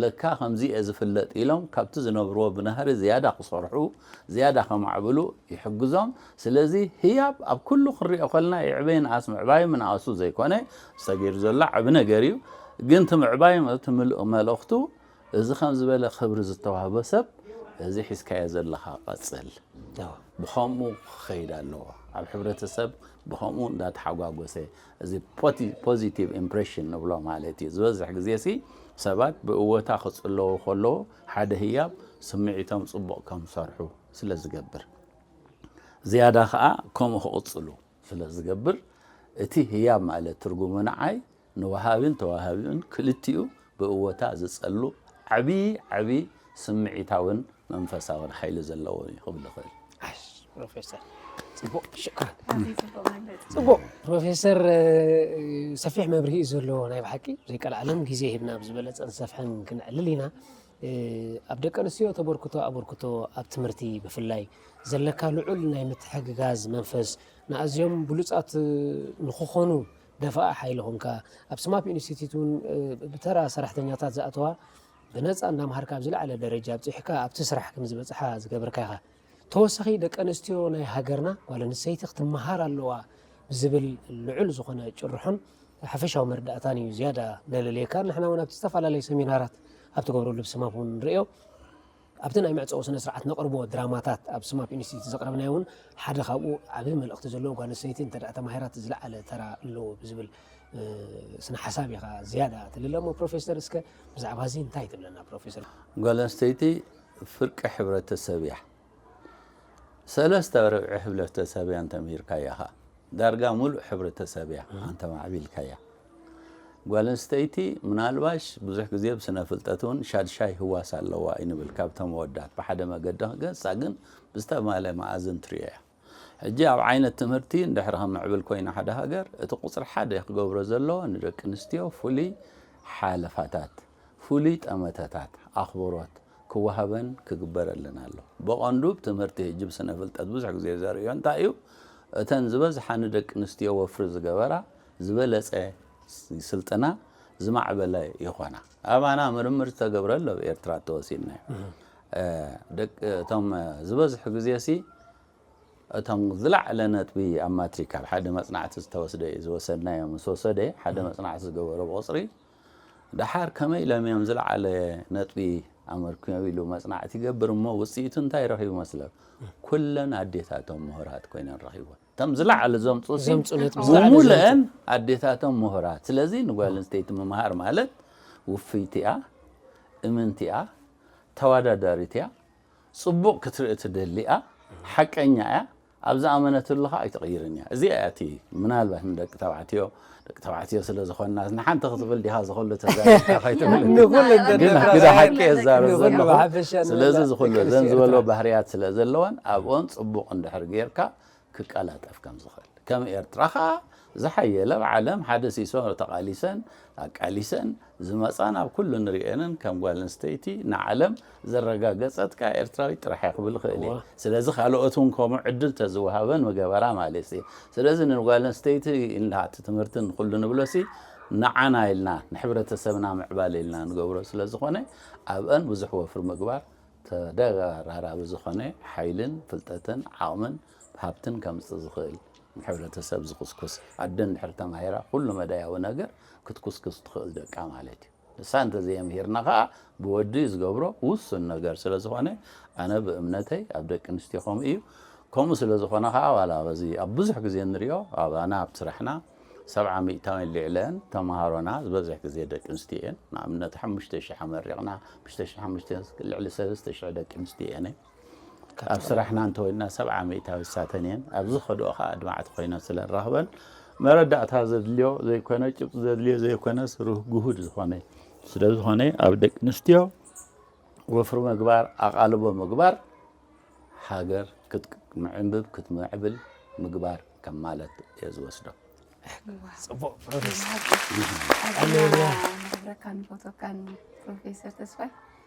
ለካ ከምዚ'የ ዝፍለጥ ኢሎም ካብቲ ዝነብርዎ ብናህሪ ዝያዳ ክሰርሑ፣ ዝያዳ ከማዕብሉ ይሕግዞም። ስለዚ ህያብ ኣብ ኩሉ ክንሪኦ ከለና ይዕበ ይንኣስ ምዕባዩ ምንኣሱ ዘይኮነ እዚ ተገይሩ ዘሎ ዓቢ ነገር'ዩ። ግን እቲ ምዕባዩ እቲ ምሉእ መልእኽቱ እዚ ከም ዝበለ ክብሪ ዝተዋህቦ ሰብ እዚ ሒዝካዮ ዘለኻ ቀጽል ብኸምኡ ክኸይድ ኣለዎ። ኣብ ሕብረተሰብ ብኸምኡ እንዳተሓጓጎሰ እዚ ፖዚቲቭ ኢምፕሬሽን ንብሎ ማለት እዩ። ዝበዝሕ ግዜሲ ሰባት ብእወታ ክጽለዉ ከለዉ ሓደ ህያብ ስምዒቶም ጽቡቕ ከም ዝሰርሑ ስለ ዝገብር ዝያዳ ከኣ ከምኡ ክቕጽሉ ስለ ዝገብር እቲ ህያብ ማለት ትርጉሙ ንዓይ ንወሃቢን ተወሃቢኡን ክልቲኡ ብእወታ ዝጸሉ ዓቢ ዓቢ ስምዒታውን መንፈሳውን ሓይሊ ዘለዎን እዩ ክብል ይኽእል። ፕሮፌሰር ፅቡቅ ሽኩራን ፅቡቅ ፕሮፌሰር ሰፊሕ መብርሂ እዩ ዘለዎ ናይ ብሓቂ ዘይቀልዓለም ግዜ ሂብና ብዝበለፀን ዝሰፍሐን ክንዕልል ኢና ኣብ ደቂ ኣንስትዮ ተበርክቶ ኣበርክቶ ኣብ ትምህርቲ ብፍላይ ዘለካ ልዑል ናይ ምትሕግጋዝ መንፈስ ንኣዝዮም ብሉፃት ንክኾኑ ደፋእ ሓይሊ ኮንካ ኣብ ስማፕ ኢንስቲትዩት እውን ብተራ ሰራሕተኛታት ዝኣተዋ ብነጻ እናምሃርካ ኣብ ዝለዓለ ደረጃ ኣብጺሕካ ኣብቲ ስራሕ ከምዝበጽሓ ዝገብርካ ኢኻ። ተወሳኺ ደቂ ኣንስትዮ ናይ ሃገርና ጓል ኣንስተይቲ ክትመሃር ኣለዋ ብዝብል ልዑል ዝኾነ ጭርሖን ሓፈሻዊ መረዳእታን እዩ ዝያዳ ነለልየካ። ንሕና እውን ኣብቲ ዝተፈላለዩ ሰሚናራት ኣብ ትገብረሉ ብስማም እውን ንርእዮ። ኣብቲ ናይ መዕጸዊ ስነ ስርዓት ነቕርቦ ድራማታት ኣብ ስማፕ ኢንስቲትዩት ዘቕረብናዮ እውን ሓደ ካብኡ ዓቢ መልእኽቲ ዘለዎ ጓል ኣንስተይቲ እንተድኣ ተማሂራት ዝለዓለ ተራ ኣለዎ ብዝብል ስነ ሓሳብ ኢኻ ዝያዳ ትልለ እሞ ፕሮፌሰር እስከ ብዛዕባ እዚ እንታይ ትብለና ፕሮፌሰር? ጓል ኣንስተይቲ ፍርቂ ሕብረተሰብ እያ። ሰለስተ ርብዒ ሕብለተሰብ እያ እንተምሂርካያ ከኣ ዳርጋ ምሉእ ሕብረተሰብ እያ ኣንተማዕቢልካያ። ጓል ኣንስተይቲ ምናልባሽ ብዙሕ ግዜ ብስነ ፍልጠት እውን ሻድሻይ ህዋስ ኣለዋ እዩ ንብል ካብቶም ኣወዳት ብሓደ መገዲ ክገጻ ግን ብዝተማለ መኣዝን ትሪኦ እያ ሕጂ ኣብ ዓይነት ትምህርቲ እንድሕር ከምዕብል ኮይና ሓደ ሃገር እቲ ቁጽሪ ሓደ ክገብሮ ዘለዎ ንደቂ ኣንስትዮ ፍሉይ ሓለፋታት ፍሉይ ጠመተታት ኣኽብሮት ክወሃበን ክግበረልን ኣሎ ብቐንዱ ብትምህርቲ ሕጂ ብስነ ፍልጠት ብዙሕ ግዜ ዘርእዮ እንታይ እዩ እተን ዝበዝሓ ንደቂ ኣንስትዮ ወፍሪ ዝገበራ ዝበለጸ ስልጠና ዝማዕበለ ይኾና። ኣባና ምርምር ዝተገብረሉ ኣብ ኤርትራ ተወሲድና እዩ። እቶም ዝበዝሑ ግዜሲ እቶም ዝለዓለ ነጥቢ ኣብ ማትሪክ ኣብ ሓደ መጽናዕቲ ዝተወስደ እዩ ዝወሰድናዮ ምስ ወሰደ ሓደ መጽናዕቲ ዝገበሮ ብቑጽሪ ደሓር ከመይ ኢሎም እዮም ዝለዓለ ነጥቢ ኣመርክዮም ኢሉ መጽናዕቲ ይገብር እሞ ውጽኢቱ እንታይ ረኺቡ መስለብ ኩለን ኣዴታቶም ምሁራት ኮይነን ረኺቦን እቶም ዝለዓሉ ዘምፁ ሲ ዘምፁ ነቲ ምስ ዝለዓለ ብሙሉአን ኣዴታቶም ምሁራት ስለዚ ንጓል ኣንስተይቲ ምምሃር ማለት ውፍይቲ እያ እምንቲ እያ ተዋዳዳሪት እያ ፅቡቕ ክትርኢ ትደሊ እያ ሓቀኛ እያ ኣብ ዝኣመነትሉ ከዓ ኣይትቕይርን እያ እዚኣ እያ እቲ ምናልባት ንደቂ ተባዕትዮ ደቂ ተባዕትዮ ስለ ዝኾንና ንሓንቲ ክትብል ዲኻ ዝኹሉ ተዛሪብካ ከይትብል ንኹሉ እንተ ግን ንኹሉ ግደ ሓቂ ንኹሉ እዛረብ ዘለኹ ብሓፈሻ ስለዚ ንብላ ዝኹሉ ደቂ እዘን ኣንስትዮ ዝበልዎ ኤርትራ። ባህርያት ስለ ዘለወን ኣብኦን ጽቡቕ እንድሕር ጌርካ ክቀላጠፍ ከም ዝኽእል ከም ኤርትራ ኸኣ ዝሓየለ ኣብ ዓለም ሓደ ሲሶ ተቓሊሰን ኣቃሊሰን ዝመጻን ኣብ ኩሉ ንርእየንን ከም ጓል ኣንስተይቲ ንዓለም ዘረጋገጸት ከኣ ኤርትራዊት ጥራሕ እያ ክብል እኽእል እየ። ስለዚ ካልኦት እውን ከምኡ ዕድል ተዝወሃበን ምገበራ ማለት እየ። ስለዚ ንጓል ኣንስተይቲ ኢልና እቲ ትምህርቲ ንኹሉ ንብሎሲ ንዓና ኢልና ንሕብረተሰብና ምዕባለ ኢልና ንገብሮ ስለዝኾነ ኣብአን ብዙሕ ወፍሪ ምግባር ተደራራቢ ዝኾነ ሓይልን ፍልጠትን ዓቕምን ሃብትን ከምጽእ ዝኽእል ንሕብረተሰብ ዝኹስኩስ ኣደ እንድሕር ተማሂራ ኩሉ መዳያዊ ነገር ክትኩስክስ ትኽእል ደቃ ማለት እዩ። ንሳ እንተዘየምሂርና ከኣ ብወዲ ዝገብሮ ውሱን ነገር ስለ ዝኾነ ኣነ ብእምነተይ ኣብ ደቂ ኣንስትዮ ከምኡ እዩ። ከምኡ ስለ ዝኾነ ከኣ ዋላ በዚ ኣብ ብዙሕ ግዜ እንሪኦ ኣባና ኣብ ስራሕና ሰብዓ ሚእታዊን ሊዕለአን ተመሃሮና ዝበዝሕ ግዜ ደቂ ኣንስትዮ እየን። ንኣብነት ሓሙሽተ ሽሕ ኣመሪቕና ሓሙሽተ ሽሕ ሓሙሽተ ልዕሊ ሰለስተ ሽሕ ደቂ ኣንስትዮ እየን። ኣብ ስራሕና እንተወይንና ሰብዓ ሚእታዊ ዝሳተን እየን። ኣብ ዝኸድኦ ከኣ ኣድማዕቲ ኮይነን ስለ ንረኽበን፣ መረዳእታ ዘድልዮ ዘይኮነ፣ ጭብጢ ዘድልዮ ዘይኮነስ ርህ ግሁድ ዝኾነ እዩ። ስለ ዝኾነ ኣብ ደቂ ኣንስትዮ ወፍሪ ምግባር፣ ኣቓልቦ ምግባር ሃገር ክትምዕብብ ክትምዕብል ምግባር ከም ማለት እየ ዝወስዶ። ጽቡቅ ፕሮፌሰር ኣዝና ነኽብረካን ንፈትወካን ፕሮፌሰር ተስፋይ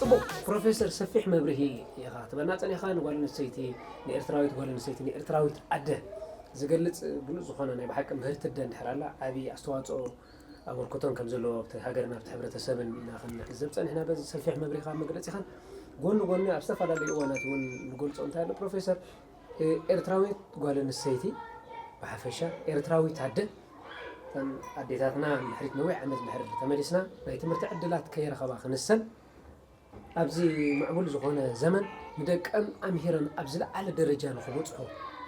ጽቡቕ ፕሮፌሰር ሰፊሕ መብርሂ ኢኻ ትበና ጸኒኻ ንጓል ኣንስተይቲ ንኤርትራዊት ጓል ኣንስተይቲ ንኤርትራዊት ኣደ ዝገልጽ ብሉጽ ዝኾነ ናይ ብሓቂ ምህርቲ ኣደ እንድሕር ኣላ ዓቢ ኣስተዋጽኦ ኣበርክቶን ከም ዘለዎ ኣብቲ ሃገርን ኣብቲ ሕብረተሰብን ኢና ክንዕዘብ ጸኒሕና በዚ ሰፊሕ መብርሂኻን መግለጺኻን ጎኒ ጎኒ ኣብ ዝተፈላለዩ እዋናት እውን ንገልጾ እንታይ ኣሎ ፕሮፌሰር ኤርትራዊት ጓለንስተይቲ ብሓፈሻ ኤርትራዊት ኣደ እተን ኣዴታትና ንድሕሪት ነዊሕ ዓመት ድሕሪ ተመሊስና ናይ ትምህርቲ ዕድላት ከይረኸባ ክንሰን ኣብዚ ምዕቡል ዝኾነ ዘመን ንደቀን ኣምሂረን ኣብ ዝለዓለ ደረጃ ንኽበፅሑ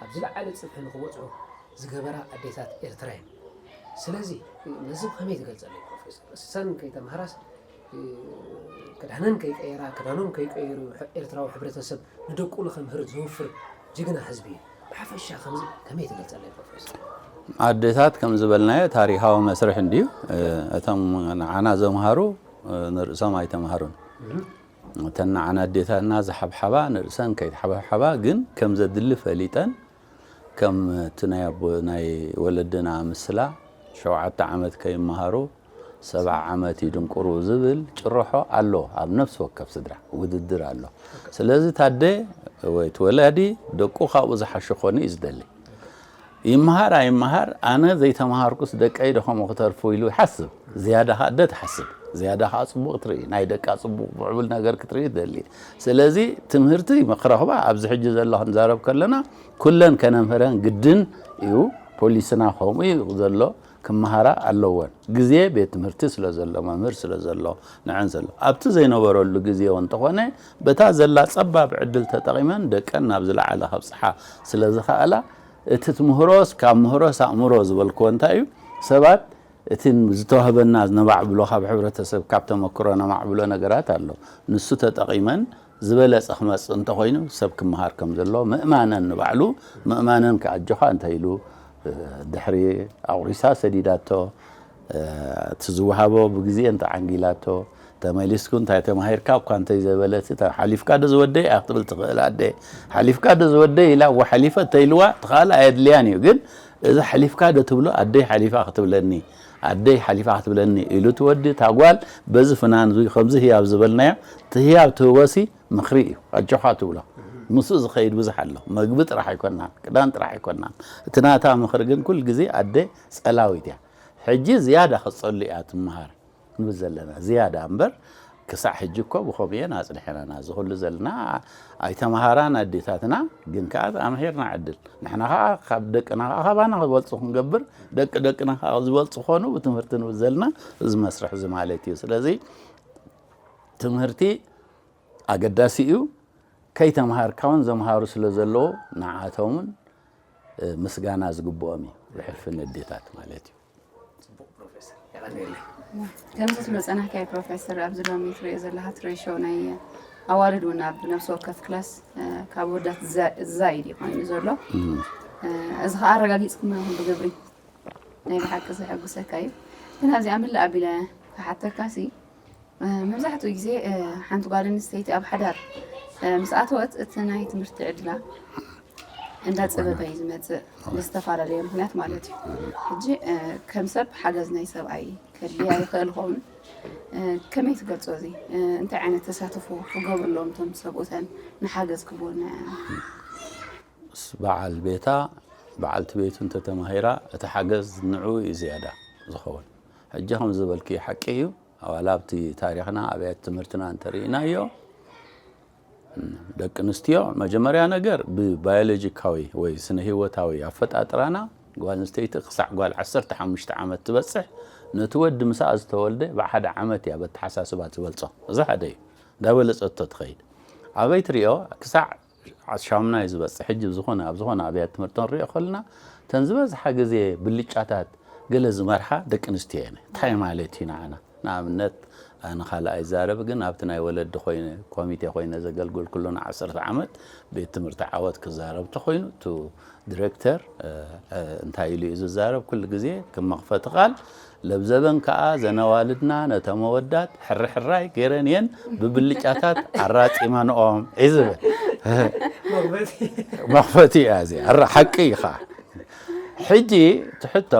ኣብ ዝለዓለ ፅፍሒ ንኽበፅሑ ዝገበራ ኣዴታት ኤርትራ እየን። ስለዚ ነዚ ብኸመይ ትገልፀለይ ፕሮፌሰር? እሰን ከይተምሃራስ ክዳነን ከይቀየራ ክዳኖም ከይቀየሩ ኤርትራዊ ሕብረተሰብ ንደቁ ንከምህር ዘውፍር ጅግና ህዝቢ እዩ። ብሓፈሻ ከምዚ ከመይ ትገልጸለይ ፕሮፌሰር? ኣዴታት ከም ዝበልናዮ ታሪኻዊ መስርሕ እንድዩ። እቶም ንዓና ዘምሃሩ ንርእሶም ኣይተምሃሩን። እተን ንዓና ኣዴታትና ዝሓብሓባ ንርእሰን ከይተሓባብሓባ ግን ከም ዘድሊ ፈሊጠን ከም እቲ ናይ ኣቦ ናይ ወለድና ምስላ ሸውዓተ ዓመት ከይመሃሩ ሰብዓ ዓመት ይድንቁሩ ዝብል ጭርሖ ኣሎ ኣብ ነፍሲ ወከፍ ስድራ ውድድር ኣሎ ስለዚ ታደ ወይ እቲ ወላዲ ደቁ ካብኡ ዝሓሹ ክኾኑ እዩ ዝደሊ ይመሃር ኣይመሃር ኣነ ዘይተምሃርኩስ ደቀይ ደኸሙ ክተርፉ ኢሉ ይሓስብ ዝያዳ ካደ ትሓስብ ዝያዳ ከዓ ፅቡቅ ትርኢ ናይ ደቃ ፅቡቅ ምዕቡል ነገር ክትርኢ ትደሊ ስለዚ ትምህርቲ መክረክባ ኣብዚ ሕጂ ዘሎ ክንዛረብ ከለና ኩለን ከነምህረን ግድን እዩ ፖሊስና ከምኡ እዩ ዘሎ ክመሃራ ኣለወን ግዜ ቤት ትምህርቲ ስለ ዘሎ መምህር ስለ ዘሎ ንዐን ዘሎ ኣብቲ ዘይነበረሉ ግዜ እውን እንተኾነ በታ ዘላ ጸባብ ዕድል ተጠቒመን ደቀን ናብ ዝለዓለ ከብጽሓ ስለ ዝኸኣላ እቲ ትምህሮስ ካብ ምህሮስ ኣእምሮ ዝበልክዎ እንታይ እዩ ሰባት እቲ ዝተዋህበና ነማዕብሎ ካብ ሕብረተሰብ ካብ ተመክሮ ነማዕብሎ ነገራት ኣሎ። ንሱ ተጠቒመን ዝበለጸ ክመጽእ እንተኾይኑ ሰብ ክመሃር ከም ዘለዎ ምእማነን ንባዕሉ ምእማነን ከኣ ኣጆኻ እንተ ኢሉ ድሕሪ ኣቑሪሳ ሰዲዳቶ እቲ ዝወሃቦ ብግዜ እንተ ዓንጊላቶ ተመሊስኩ እንታይ ተማሂርካ እኳ እንተ ዘይበለት ሓሊፍካ ዶ ዝወደይ ኢያ ክትብል ትኽእል ኣደ ሓሊፍካ ዶ ዝወደይ ኢላ እወ ሓሊፈ እንተ ኢልዋ እቲ ካልእ ኣየድልያን ኢዩ ግን እዚ ሓሊፍካ ዶ ትብሎ ኣደይ ሓሊፋ ክትብለኒ ኣደይ ሓሊፋ ክትብለኒ ኢሉ እቲ ወዲ እታ ጓል በዚ ፍናን እዙይ ከምዚ ህያብ ዝበልናዮ እቲ ህያብ ትህቦሲ ምኽሪ እዩ ኣጆኻ ትብሎ ምስኡ ዝኸይድ ብዙሕ ኣሎ መግቢ ጥራሕ ኣይኮናን ክዳን ጥራሕ ኣይኮናን እቲ ናታ ምኽሪ ግን ኩል ግዜ ኣደ ጸላዊት እያ ሕጂ ዝያዳ ክትጸሉ እያ ትመሃር ንብል ዘለና ዝያዳ እምበር ክሳዕ ሕጂ እኮ ብከምኡ እየን ኣጽኒሐናና እዚ ኩሉ ዘለና ኣይተማሃራን ኣዴታትና ግን ከኣ ተኣምሂርና ዕድል ንሕና ከኣ ካብ ደቅና ከኣ ካባና ክበልጹ ክንገብር ደቂ ደቅና ከኣ ዝበልጹ ኮኑ ብትምህርቲ ንብል ዘለና እዚ መስርሕ እዚ ማለት እዩ ስለዚ ትምህርቲ ኣገዳሲ እዩ ከይተምሃርካ እውን ዘምሃሩ ስለ ዘለዎ ንዓቶምን ምስጋና ዝግብኦም እዩ ብሕልፊ ነዴታት ማለት እዩ ጽቡቕ ፕሮፌሰር የቐንየለይ። ከምዚ ዝመጸናካዮ ፕሮፌሰር ኣብዚ ሎሚ ትሪኦ ዘለካ ትሬሾ ናይ ኣዋልድ እውን ኣብ ነብሲ ወከፍ ክላስ ካብ ወዳት ዝዛይድ እዩ ኮይኑ ዘሎ እዚ ከዓ ኣረጋጊፅኩም ኣለኹም ብግብሪ ናይ ብሓቂ ዘሐጉሰካ እዩ ግን ኣብዚኣ ምልእ ኣቢለ ክሓተካ ሲ መብዛሕትኡ ግዜ ሓንቲ ጓል ኣንስተይቲ ኣብ ሓዳር ምስ ኣተወት እቲ ናይ ትምህርቲ ዕድላ እንዳፀበበ እዩ ዝመፅእ ብዝተፈላለየ ምክንያት ማለት እዩ ሕጂ ከም ሰብ ሓገዝ ናይ ሰብኣይ ከድልያ ይኽእል ኸውን ከመይ ትገልፆ እዚ እንታይ ዓይነት ተሳትፎ ክገብርሎም እቶም ሰብኡተን ንሓገዝ ክብወና ምስ በዓል ቤታ በዓልቲ ቤቱ እንተተማሂራ እቲ ሓገዝ ንዑ እዩ ዝያዳ ዝኸውን ሕጂ ከምዚ ዝበልክዮ ሓቂ ኢዩ ዋላ ኣብቲ ታሪኽና ኣብያተ ትምህርትና እንተሪኢናዮ ደቂ ኣንስትዮ መጀመርያ ነገር ብባዮሎጂካዊ ወይ ስነ ህይወታዊ ኣፈጣጥራና ጓል ኣንስተይቲ ክሳዕ ጓል ዓሰርተ ሓሙሽተ ዓመት ትበጽሕ ነቲ ወዲ ምስኣ ዝተወልደ ብሓደ ዓመት እያ በተሓሳስባ ትበልጾ እዚ ሓደ እዩ እንዳበለጸቶ ትኸይድ ኣበይ ትሪኦ ክሳዕ ዓሻምና'ዩ ዝበጽሕ። ሕጂ ኣብ ዝኾነ ኣብ ዝኾነ ኣብያት ትምህርቲ ክንሪኦ ከለና እተን ዝበዝሓ ግዜ ብልጫታት ገለ ዝመርሓ ደቂ ኣንስትዮ እየን። እንታይ ማለት እዩ ንዓና? ንኣብነት ኣነ ካልኣ ይዛረብ ግን ኣብቲ ናይ ወለዲ ኮይነ ኮሚቴ ኮይነ ዘገልገልኩሉ ን ዓሰርተ ዓመት ቤት ትምህርቲ ዓወት ክዛረብ ተኾይኑ እቲ ድረክተር እንታይ ኢሉ እዩ ዝዛረብ ኩሉ ግዜ ከም መኽፈቲ ቃል ለብዘበን ከኣ እዘን ኣዋልድና ነቶም ኣወዳት ሕርሕራይ ገይረን እየን ብብልጫታት ኣራጺመንኦም እዩ ዝብል። መኽፈቲ እያ እዚኣ እረ ሓቂ እዩ ኸኣ። ሕጂ እቲ ሕቶ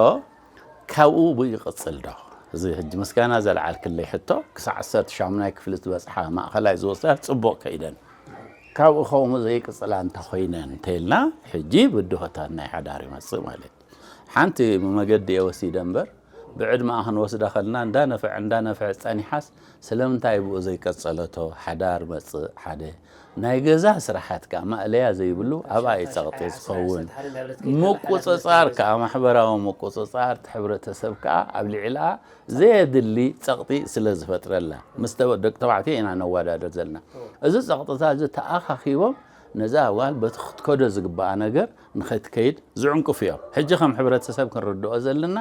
ካብኡ ብኡ ይቕጽል ዶ? እዚ ሕጂ ምስጋና ዘልዓልክለይ ሕቶ ክሳዕ ዓሰርተ ሻሙናይ ክፍሊ ዝበጽሓ ማእኸላይ ዝወስዳ ጽቡቕ ከይደን ካብኡ ከምኡ ዘይቅጽላ እንተ ኾይነን እንተ ኢልና ሕጂ ብድሆታት ናይ ሓዳር ይመጽእ ማለት እዩ። ሓንቲ መገዲ እየ ወሲደ እምበር ብዕድመኣ ክንወስዳ ከልና እንዳነፈዐ እንዳነፈዐ ጸኒሓስ ስለምንታይ ብኡ ዘይቀጸለቶ ሓዳር መጽእ ሓደ ናይ ገዛ ስራሓት ከኣ ማእለያ ዘይብሉ ኣብኣ እዩ ጸቕጢ ዝኸውን ምቁጽጻር ከኣ ማሕበራዊ ምቁጽጻር እቲ ሕብረተሰብ ከኣ ኣብ ልዕልኣ ዘየድሊ ጸቕጢ ስለ ዝፈጥረላ ምስ ደቂ ተባዕትዮ ኢና ነወዳድር ዘለና እዚ ጸቕጥታት እዚ ተኣኻኺቦም ነዛ ጓል በቲ ክትከዶ ዝግባኣ ነገር ንኸትከይድ ዝዕንቅፉ እዮም። ሕጂ ከም ሕብረተሰብ ክንርድኦ ዘለና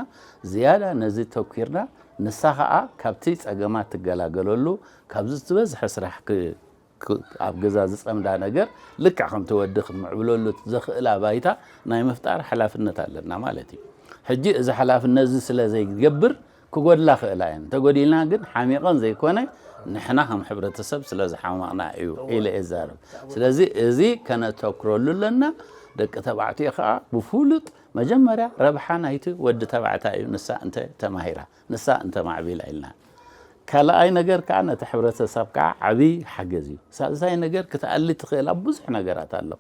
ዝያዳ ነዚ ተኲርና ንሳ ከኣ ካብቲ ጸገማት ትገላገለሉ ካብዚ ዝበዝሐ ስራሕ ኣብ ገዛ ዝጸምዳ ነገር ልክዕ ከምቲ ወዲ ክትምዕብለሉ ዘኽእላ ባይታ ናይ ምፍጣር ሓላፍነት ኣለና ማለት እዩ። ሕጂ እዚ ሓላፍነትዚ ስለ ዘይገብር ክጎድላ ክእላ እየን እንተጎዲልና ግን ሓሚቐን ዘይኮነ ንሕና ከም ሕብረተሰብ ስለ ዝሓመቕና እዩ ኢለ እዛረብ ስለዚ እዚ ከነተኩረሉ ኣለና ደቂ ተባዕትዮ ከዓ ብፍሉጥ መጀመርያ ረብሓ ናይቲ ወዲ ተባዕታይ እዩ ንሳ እንተ ተማሂራ ንሳ እንተ ማዕቢላ ኢልና ካልኣይ ነገር ከዓ ነቲ ሕብረተሰብ ከዓ ዓብዪ ሓገዝ እዩ ሳልሳይ ነገር ክትኣሊ ትኽእል ኣብ ብዙሕ ነገራት ኣሎ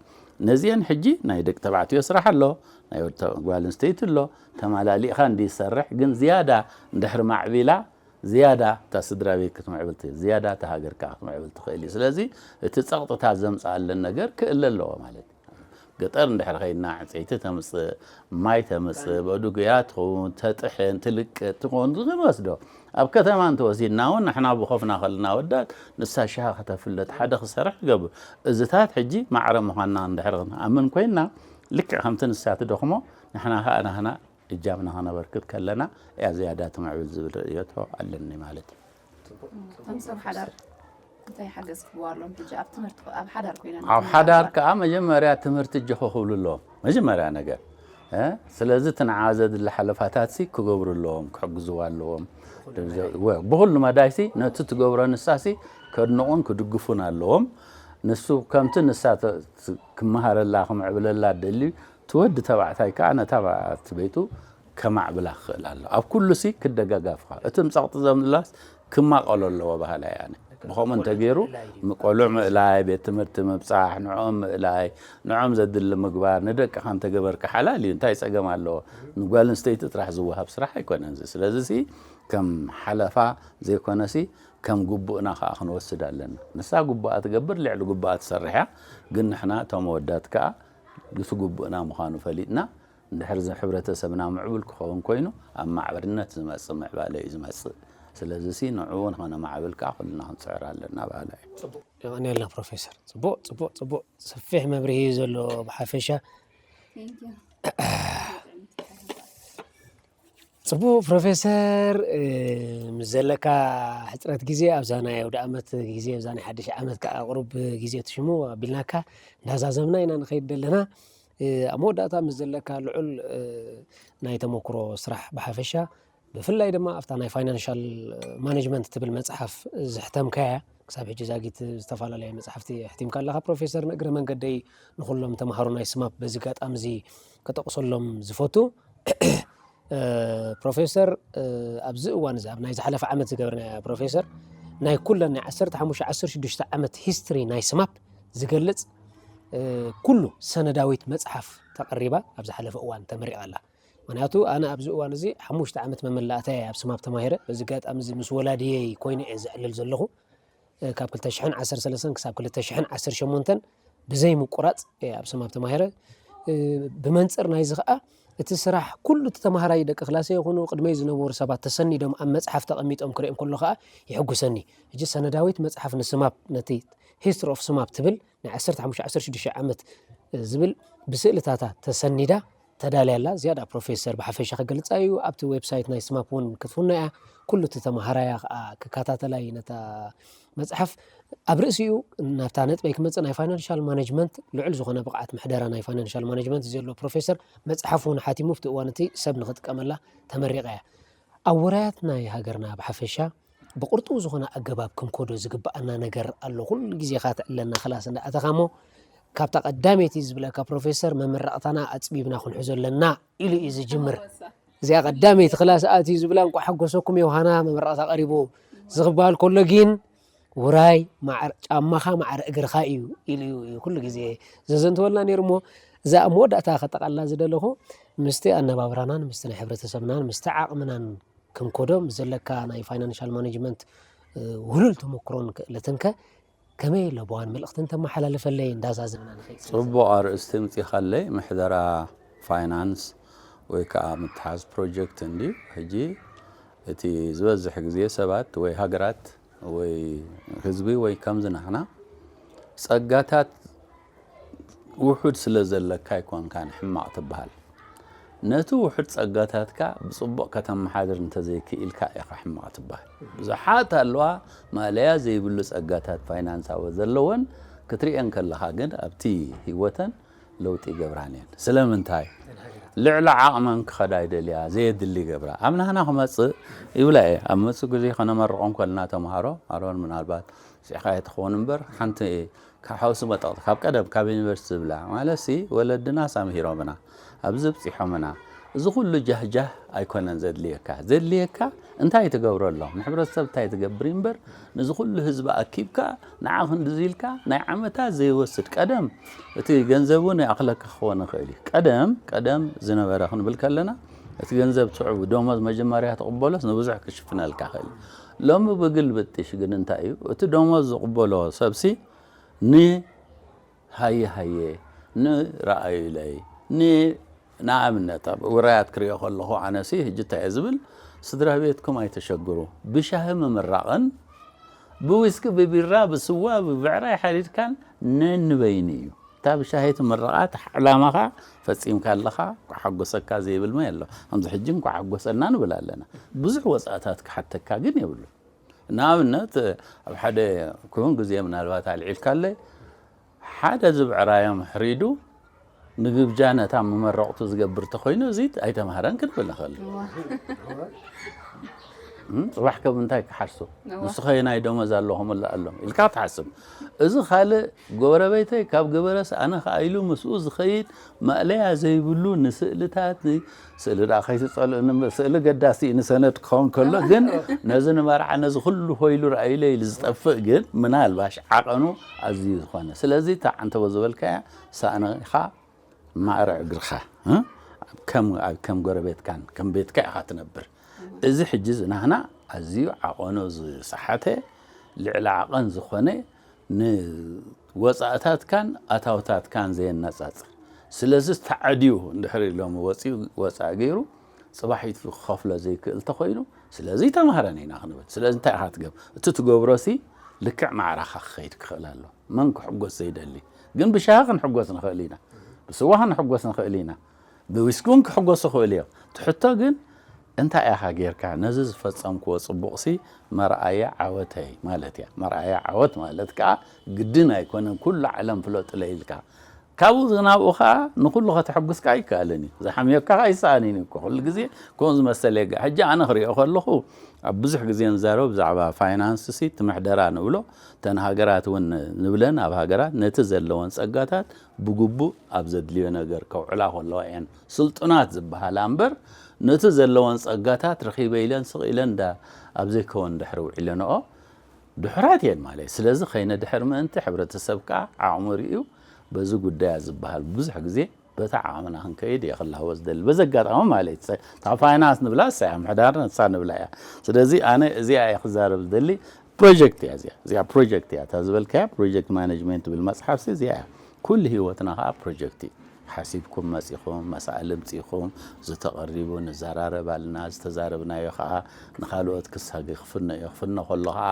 ነዚአን ሕጂ ናይ ደቂ ተባዕትዮ ስራሕ ኣሎ ናይ ጓል ኣንስተይቲ ኣሎ ተማላሊእኻ እንድዩ ዝሰርሕ ግን ዝያዳ እንድሕር ማዕቢላ ዝያዳ እታ ስድራቤት ክትምዕብል ትኽእል ዝያዳ እታ ሃገር ከኣ ክትምዕብል ትኽእል እዩ ስለዚ እቲ ጸቕጥታት ዘምጽኣለን ነገር ክእለ ኣለዎ ማለት እዩ ገጠር እንድሕር ኸይድና ዕንፀይቲ ተምፅእ ማይ ተምፅእ በዱጉያ ትኸውን ተጥሕን ትልቅጥ ትኸውን ንወስዶ ኣብ ከተማ እንተወሲድና እውን ንሕና ብኾፍና ከለና ወዳት ንሳ ሽሃ ከተፍልጥ ሓደ ክሰርሕ ትገብር እዝታት ሕጂ ማዕረ ምዃንና እንድሕር ኣምን ኮይና ልክዕ ከምቲ ንሳ ትደኽሞ ንሕና ከኣ ናህና እጃምና ከነበርክት ከለና እያ ዝያዳ ትምዕብል ዝብል ርእዮቶ ኣለኒ ማለት እዩ። እንታይ ሓገዝ ክህብዎ ኣሎም ሕጂ ኣብ ትምህርቲ ኣብ ሓዳር ኮይነ ኣብ ሓዳር ከዓ መጀመርያ ትምህርቲ እጆ ክኽብሉ ኣለዎም መጀመርያ ነገር ስለዚ እቲ ንዓ ዘድሊ ሓለፋታት ሲ ክገብሩ ኣለዎም ክሕግዝዎ ኣለዎም ብኩሉ መዳይ ሲ ነቲ ትገብሮ ንሳ ሲ ከድንቑን ክድግፉን ኣለዎም ንሱ ከምቲ ንሳ ክመሃረላ ክምዕብለላ ደልዩ እቲ ወዲ ተባዕታይ ከኣ ነታ ኣብቲ ቤቱ ከማዕብላ ክኽእል ኣለዎ። ኣብ ኩሉሲ ክደጋጋፍኻ፣ እቲ ምጸቕጢ ዘምላስ ክማቐሎ ኣለዎ በሃላይ እየ ኣነ። ብኸምኡ እንተገይሩ ንቆልዑ ምእላይ፣ ቤት ትምህርቲ ምብጻሕ፣ ንዕኦም ምእላይ፣ ንዕኦም ዘድሊ ምግባር ንደቅኻ እንተገበርካ ሓላል እዩ፣ እንታይ ጸገም ኣለዎ? ንጓል ኣንስተይቲ ጥራሕ ዝወሃብ ስራሕ ኣይኮነን እዚ። ስለዚሲ ከም ሓለፋ ዘይኮነሲ ከም ግቡእና ከኣ ክንወስድ ኣለና። ንሳ ግቡኣ ትገብር ልዕሊ ግቡኣ ትሰርሕ እያ፣ ግን ንሕና እቶም ኣወዳት ከኣ ግፊ ግቡእና ምዃኑ ፈሊጥና እንድሕር ሕብረተሰብና ምዕቡል ክኸውን ኮይኑ ኣብ ማዕበልነት ዝመፅእ ምዕባለ እዩ ዝመፅእ። ስለዚሲ ንዕኡ ንኸነማዕብል ከዓ ኩልና ክንፅዕር ኣለና በሃላይ እየ። ፅቡቕ የቐንየልና ፕሮፌሰር ፅቡቕ ፅቡቕ ፅቡቕ ሰፊሕ መብርሂ እዩ ዘሎ ብሓፈሻ። ጽቡቅ ፕሮፌሰር ምስ ዘለካ ሕጽረት ግዜ ኣብዛ ናይ ኣውደኣመት ግዜ ኣብዛ ናይ ሓድሽ ዓመት ከዓ ቅሩብ ግዜ ትሽሙ ኣቢልናካ እንዳዛዘምና ኢና ንኸይድ ዘለና ኣብ መወዳእታ ምስ ዘለካ ልዑል ናይ ተመክሮ ስራሕ ብሓፈሻ ብፍላይ ድማ ኣብታ ናይ ፋይናንሻል ማኔጅመንት ትብል መፅሓፍ ዝሕተምካያ ክሳብ ሕጂ ዛጊት ዝተፈላለየ መፅሓፍቲ ሕቲምካ ኣለካ ፕሮፌሰር ንእግረ መንገደይ ንኩሎም ተምሃሮ ናይ ስማፕ በዚ ጋጣሚ እዚ ከጠቕሰሎም ዝፈቱ ፕሮፌሰር ኣብዚ እዋን እዚ ኣብ ናይ ዝሓለፈ ዓመት ዝገብርናያ ፕሮፌሰር ናይ ኩለን ናይ 15 16 ዓመት ሂስትሪ ናይ ስማፕ ዝገልጽ ኩሉ ሰነዳዊት መጽሓፍ ተቐሪባ ኣብ ዝሓለፈ እዋን ተመሪቓ ኣላ ምክንያቱ ኣነ ኣብዚ እዋን እዚ ሓሙሽተ ዓመት መመላእታ ኣብ ስማፕ ተማሂረ በዚ ጋጣሚ እዚ ምስ ወላድየይ ኮይነ እየ ዘዕልል ዘለኹ ካብ ክልተ ሽሕን ዓሰርተ ሰለስተን ክሳብ ክልተ ሽሕን ዓሰርተ ሸሞንተን ብዘይምቁራፅ እየ ኣብ ሰማብ ተማሂረ ብመንፅር ናይዚ ከዓ እቲ ስራሕ ኩሉ እቲ ተማሃራይ ደቂ ክላሰ ይኹኑ ቅድመይ ዝነበሩ ሰባት ተሰኒዶም ኣብ መፅሓፍ ተቐሚጦም ክርእዮም ከሎ ከዓ ይሕጉሰኒ እጂ ሰነዳዊት መፅሓፍ ንስማብ ነቲ ሂስትሪ ኦፍ ስማብ ትብል ናይ ዓሰርተ ሓሙሽተ ዓሰርተ ሽዱሽተ ዓመት ዝብል ብስእልታታ ተሰኒዳ ተዳልያ ኣላ ዝያዳ ፕሮፌሰር ብሓፈሻ ክገልጻ እዩ ኣብቲ ዌብሳይት ናይ ስማፕ እውን ክትፍኖ እያ ኩሉ እቲ ተምሃራያ ከዓ ክከታተላ እዩ ነታ መፅሓፍ ኣብ ርእሲኡ ናብታ ነጥበይ ክመፅእ ናይ ፋይናንሻል ማነጅመንት ልዑል ዝኾነ ብቕዓት ምሕደራ ናይ ፋይናንሻል ማነጅመንት እዩ ዘሎ ፕሮፌሰር መፅሓፍ እውን ሓቲሙ ኣብቲ እዋን እቲ ሰብ ንክጥቀመላ ተመሪቃ እያ ኣብ ውራያት ናይ ሃገርና ብሓፈሻ ብቕርጡው ዝኾነ ኣገባብ ክንኮዶ ዝግብኣና ነገር ኣሎ ኩሉ ግዜ ካ ትዕለና ክላስ እንዳኣተኻ እሞ ካብታ ቀዳመይቲ ዝብለካ ፕሮፌሰር መመረቕታና ኣፅቢብና ክንሕዞ ኣለና ኢሉ እዩ ዝጅምር እዚኣ ቀዳመይቲ ክላስ ኣትዩ ዝብላ እንኳ ሓጎሰኩም የውሃና መመረቕታ ቀሪቡ ዝኽበሃል ከሎ ግን ውራይ ጫማኻ ማዕረ እግርኻ እዩ ኢሉ እዩ ኩሉ ግዜ ዘዘንተወልና ነይሩ እሞ እዛ ኣብ መወዳእታ ከጠቓላ ዝደለኹ ምስቲ ኣነባብራናን ምስቲ ናይ ሕብረተሰብናን ምስቲ ዓቕምናን ከም ኮዶም ዘለካ ናይ ፋይናንሻል ማኔጅመንት ውህሉል ተመክሮን ክእለትን ከ ከመይ ለበዋን መልእኽትን ተመሓላልፈለይ እንዳዛዘምና ንኸይድ ጽቡቕ ኣርእስቲ ምጺኻለይ ምሕደራ ፋይናንስ ወይ ከዓ ምትሓዝ ፕሮጀክት እንዲ ሕጂ እቲ ዝበዝሕ ግዜ ሰባት ወይ ሃገራት ወይ ህዝቢ ወይ ከምዚ ናህና ጸጋታት ውሑድ ስለ ዘለካ ኣይኮንካን ሕማቕ ትበሃል። ነቲ ውሑድ ጸጋታትካ ብጽቡቕ ከተመሓድር እንተ ዘይክኢልካ ኢኻ ሕማቕ ትበሃል። ብዙሓት ኣለዋ ማእለያ ዘይብሉ ጸጋታት ፋይናንሳዊ ዘለወን፣ ክትርእየን ከለኻ ግን ኣብቲ ህይወተን ለውጢ ይገብራን እየን። ስለምንታይ? ልዕሊ ዓቕመን ክኸዳ ይደልያ፣ ዘየድሊ ይገብራ። ኣብ ናህና ክመጽእ ይብላ እየ። ኣብ መጹእ ግዜ ከነመርቖም ከለና ተመሃሮ፣ ኣሮን ምናልባት ስዒኻዮ ትኸውን እምበር፣ ሓንቲ ካብ ሓውሲ መጠቕቲ ካብ ቀደም ካብ ዩኒቨርስቲ ዝብላ ማለትሲ ወለድናስ ኣምሂሮምና ኣብዚ ኣብጺሖምና እዚ ኩሉ ጃህጃህ ኣይኮነን ዘድልየካ ዘድልየካ እንታይ ትገብረሎም ንሕብረተሰብ እንታይ ትገብር እምበር ንዚ ኩሉ ህዝቢ ኣኪብካ ንዓ ክንድዚ ኢልካ ናይ ዓመታት ዘይወስድ ቀደም እቲ ገንዘብ እውን ይኣኽለካ ክኸውን ይኽእል እዩ ቀደም ቀደም ዝነበረ ክንብል ከለና እቲ ገንዘብ ትዕቡ ደሞዝ መጀመርያ ትቕበሎስ ንብዙሕ ክሽፍነልካ ክእል ሎሚ ብግልብጥሽ ግን እንታይ እዩ እቲ ደሞዝ ዝቕበሎ ሰብሲ ን ሃየ ሃየ ን ርኣዩለይ ን ንኣብነት ኣብ ውራያት ክሪኦ ከለኹ ኣነሲ ሕጂ እንታይ እየ ዝብል ስድራቤትኩም ኣይተሸግሩ ብሻሂ ምምራቕን ብዊስኪ ብቢራ ብስዋ ብብዕራይ ሓሪድካን ነንበይኑ እዩ። እታ ብሻሂ ትምረቓ ዕላማኻ ፈጺምካ ኣለኻ ኳሓጎሰካ ዘይብል መን ኣሎ ከምዚ ሕጂ እንኳዕ ሓጎሰና ንብል ኣለና ብዙሕ ወጻእታት ክሓተካ ግን የብሉን ንኣብነት ኣብ ሓደ ክውን ግዜ ምናልባት ኣልዒልካለይ ሓደ ዝብዕራዮም ሕሪዱ ንግብጃ ነታ መመረቕቱ ዝገብር ተኾይኑ እዚ ኣይተምሃረን ክንብል ንኽእል ጽባሕ ከም እንታይ ክሓርሱ ንሱ ኸየናይ ደሞዝ ኣለኹም ኣለኹምላ ኣሎም ኢልካ ትሓስብ እዚ ካልእ ጎበረቤተይ ካብ ገበረስ ኣነ ከኣ ኢሉ ምስኡ ዝኸይድ ማእለያ ዘይብሉ ንስእልታት ን ስእሊ ደኣ ከይትጸልኡኒ እምበር ስእሊ ኣገዳሲ እዩ ንሰነድ ክኸውን ከሎ ግን ነዚ ንመርዓ ነዚ ኩሉ ሆይ ኢሉ ረኣዩለይ ኢሉ ዝጠፍእ ግን ምናልባሽ ዓቐኑ ኣዝዩ ዝኾነ ስለዚ እታ ዓንተቦ ዝበልካያ ሳእንኻ ማዕረ እግርኻ ከም ጎረቤትካን ከም ቤትካ ኢኻ ትነብር። እዚ ሕጂ ዝናህና ኣዝዩ ዓቐኑ ዝሰሓተ ልዕሊ ዓቐን ዝኾነ ንወጻእታትካን ኣታውታትካን ዘየነጻጽር ስለዚ ተዓድዩ እንድሕሪ ሎሚ ወጺኡ ወጻኢ ገይሩ ጽባሒቱ ክኸፍሎ ዘይክእል ተኾይኑ ስለዚ ተማህረን ኢና ክንብል ስለዚ እንታይ ኢኻ ትገብር እቲ ትገብሮሲ ልክዕ ማዕራኻ ክኸይድ ክኽእል ኣሎ መን ክሕጎስ ዘይደሊ ግን ብሻሂ ክንሕጎስ ንኽእል ኢና፣ ብስዋ ክንሕጎስ ንኽእል ኢና፣ ብዊስኪ እውን ክሕጎሱ ይኽእሉ እዮም። እቲ ሕቶ ግን እንታይ ኢኻ ጌርካ ነዚ ዝፈጸምክዎ ጽቡቕሲ መርኣያ ዓወተይ ማለት እያ። መርኣያ ዓወት ማለት ከኣ ግድን ኣይኮነን ኩሉ ዓለም ፍለጡለይ ኢልካ ካብኡ ናብኡ ከኣ ንኹሉ ከተሕጉስ ከኣ ኣይከኣልን እዩ። ዝሓምዮካ ከኣ ኣይሰኣንን እዩ እኮ ኩሉ ግዜ ከምኡ ዝመሰለ የጋዕ። ሕጂ ኣነ ክሪኦ ከለኹ ኣብ ብዙሕ ግዜ ንዛረብ ብዛዕባ ፋይናንስሲ እቲ ምሕደራ ንብሎ እተን ሃገራት እውን ንብለን ኣብ ሃገራት ነቲ ዘለወን ጸጋታት ብግቡእ ኣብ ዘድልዮ ነገር ከውዕላ ከለዋ እየን ስልጡናት ዝበሃላ እምበር ነቲ ዘለወን ጸጋታት ረኺበ ኢለን ስቕ ኢለን እንዳ ኣብ ዘይከወን ድሕሪ ውዒለንኦ ድሑራት እየን ማለት ስለዚ ከይነድሕር ምእንቲ ሕብረተሰብ ከኣ ዓቕሙ ርእዩ በዚ ጉዳያ ዝበሃል ብዙሕ ግዜ በታ ዓቕምና ክንከይድ እየ ክላህቦ ዝደሊ። በዚ ኣጋጣሚ ማለት እዩ። እታ ፋይናንስ ንብላ እሳ እያ፣ ምሕዳር ንሳ ንብላ እያ። ስለዚ ኣነ እዚኣ እየ ክዛረብ ዝደሊ። ፕሮጀክት እያ እዚኣ። እዚኣ ፕሮጀክት እያ። እታ ዝበልካያ ፕሮጀክት ማነጅመንት ትብል መጽሓፍሲ እዚኣ እያ። ኩሉ ህይወትና ከኣ ፕሮጀክት እዩ። ሓሲብኩም መጺኹም፣ መሳእል እምጺእኩም፣ ዝተቐሪቡ ንዘራረብ ኣለና፣ ዝተዛረብናዮ ከኣ ንኻልኦት ክሳገ ክፍኖ እዩ። ክፍኖ ከሎ ከኣ።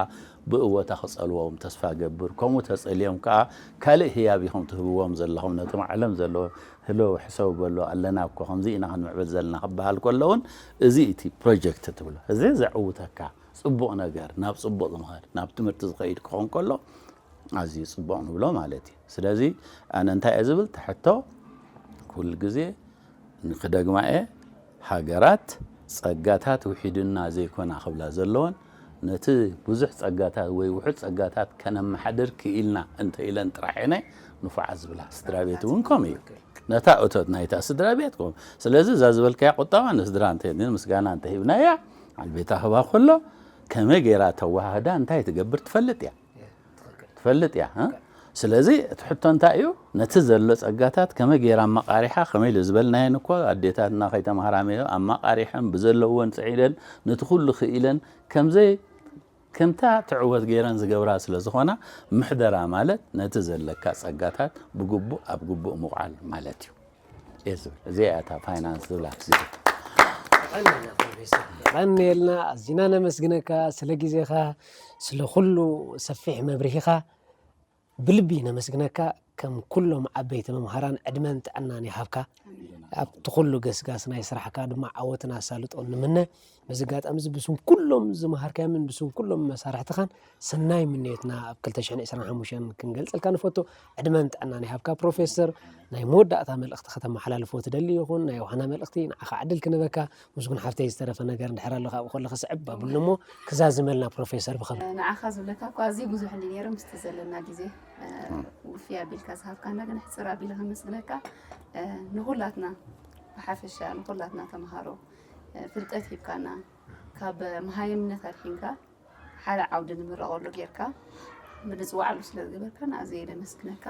ብእወታ ክጸልዎም ተስፋ እገብር፣ ከምኡ ተጸልዮም ከኣ ካልእ ህያብ ኢኹም ትህብዎም ዘለኹም ነቶም ዓለም ዘለዉ ህልው ሕሰቡ በሉ ኣለና እኮ ከምዚ ኢና ክንምዕብል ዘለና ክበሃል ከሎ ውን እዚ እቲ ፕሮጀክት ትብሎ እዚ ዘዕውተካ ጽቡቕ ነገር ናብ ጽቡቕ ዝምኸድ ናብ ትምህርቲ ዝኸይድ ክኾን ከሎ ኣዝዩ ጽቡቕ ንብሎ ማለት እዩ ስለዚ ኣነ እንታይ እየ ዝብል ትሕቶ ኩሉ ግዜ ንክደግማ'የ፣ ሃገራት ጸጋታት ውሒዱና ዘይኮና ክብላ ዘለወን፣ ነቲ ብዙሕ ጸጋታት ወይ ውሑድ ጸጋታት ከነመሓድር ክኢልና እንተ ኢለን ጥራሕ እየን ንፉዓት ዝብላ። ስድራቤት'ውን ከምኡ እዩ። ነታ እቶት ናይታ ስድራቤት ከምኡ። ስለዚ እዛ ዝበልካያ ቁጠባ ንስድራ እንተ ምስጋና እንተ ሂብናያ፣ ዓልቤታ ክህባ ከሎ ከመይ ገይራ ተወሃህዳ እንታይ ትገብር ትፈልጥ እያ። ትፈልጥ እያ ስለዚ እቲ ሕቶ እንታይ እዩ ነቲ ዘሎ ጸጋታት ከመይ ገይራ ኣመቃሪሓ ከመይ ኢሉ ዝበልናየን እኮ ኣዴታትና ከይተማሃራ መዮ ኣመቃሪሐን ብዘለወን ጽዒደን ነቲ ኩሉ ክኢለን ከምዘይ ከምታ ትዕወት ገይረን ዝገብራ ስለ ዝኾና ምሕደራ ማለት ነቲ ዘለካ ጸጋታት ብግቡእ ኣብ ግቡእ ምውዓል ማለት እዩ እዚኣ እያ እታ ፋይናንስ ዝብላ የቐንየልና ኣዝና ነመስግነካ ስለ ግዜኻ ስለ ኩሉ ሰፊሕ መብርሂኻ ብልቢ ነመስግነካ ከም ኩሎም ዓበይቲ መምሃራን ዕድመን ጥዕናን ይሃብካ ኣብቲ ኩሉ ገስጋስ ናይ ስራሕካ ድማ ዓወትን ኣሳልጦን ንምነ በዚ ኣጋጣሚዚ ብስም ኩሎም ዝመሃርካዮምን ብስም ኩሎም መሳርሕትኻን ሰናይ ምንዮትና ኣብ 2025 ክንገልጸልካ ንፈቱ። ዕድመን ጥዕናን ይሃብካ ፕሮፌሰር። ናይ መወዳእታ መልእኽቲ ከተመሓላልፎ ትደሊ ይኹን ናይ ዋህና መልእኽቲ ንዓኻ ዕድል ክንበካ። ምስጉን ሓፍተይ ዝተረፈ ነገር እንድሕር ኣሎ ካብኡ ከሎ ክስዕብ ባብሉ እሞ ክዛዝመልና ፕሮፌሰር ብኸም ንዓኻ ዝብለካ እኳ ኣዝዩ ብዙሕ እንዲ ነይሩ ምስቲ ዘለና ግዜ ውፍይ ኣቢልካ ዝሃብካና ግን ሕፅር ኣቢለ ከመስግነካ ንኹላትና ብሓፈሻ ንኹላትና ተምሃሮ ፍልጠት ሂብካና ካብ መሃይምነት ኣድሒንካ ሓደ ዓውዲ ንምረቐሉ ጌርካ ብንፅዋዕሉ ስለ ዝገበርካና ኣዝየ ደመስግነካ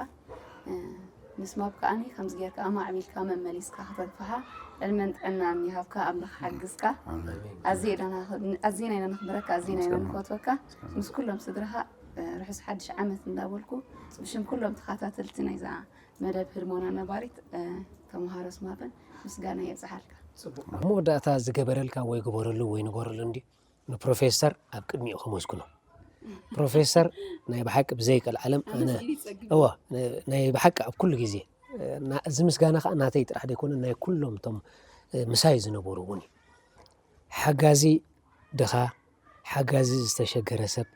ምስ ማብ ከዓኒ ከምዚ ጌርካ ኣማዕቢልካ መመሊስካ ከተንፍሓ ዕድመን ጥዕናን ይሃብካ ኣምላኽ ሓግዝካ ኣዝየ ኢና ነኽብረካ ኣዝና ኢና ንፈትወካ ምስ ኩሎም ስድራኻ ርሑስ ሓድሽ ዓመት እንዳበልኩ ብሽም ኩሎም ተኸታተልቲ ናይዛ መደብ ህድሞና ነባሪት ተምሃሮስ ማጠን ምስጋና የብጽሓልካ። ኣብ መወዳእታ ዝገበረልካ ወይ ግበረሉ ወይ ንበረሉ እንዲ ንፕሮፌሰር ኣብ ቅድሚኡ ከመስግኖ ፕሮፌሰር ናይ ብሓቂ ብዘይቀል ዓለም እዋ ናይ ብሓቂ ኣብ ኩሉ ግዜ እዚ ምስጋና ከዓ ናተይ ጥራሕ ደይኮነ ናይ ኩሎም እቶም ምሳይ ዝነበሩ እውን እዩ ሓጋዚ ድኻ ሓጋዚ ዝተሸገረ ሰብ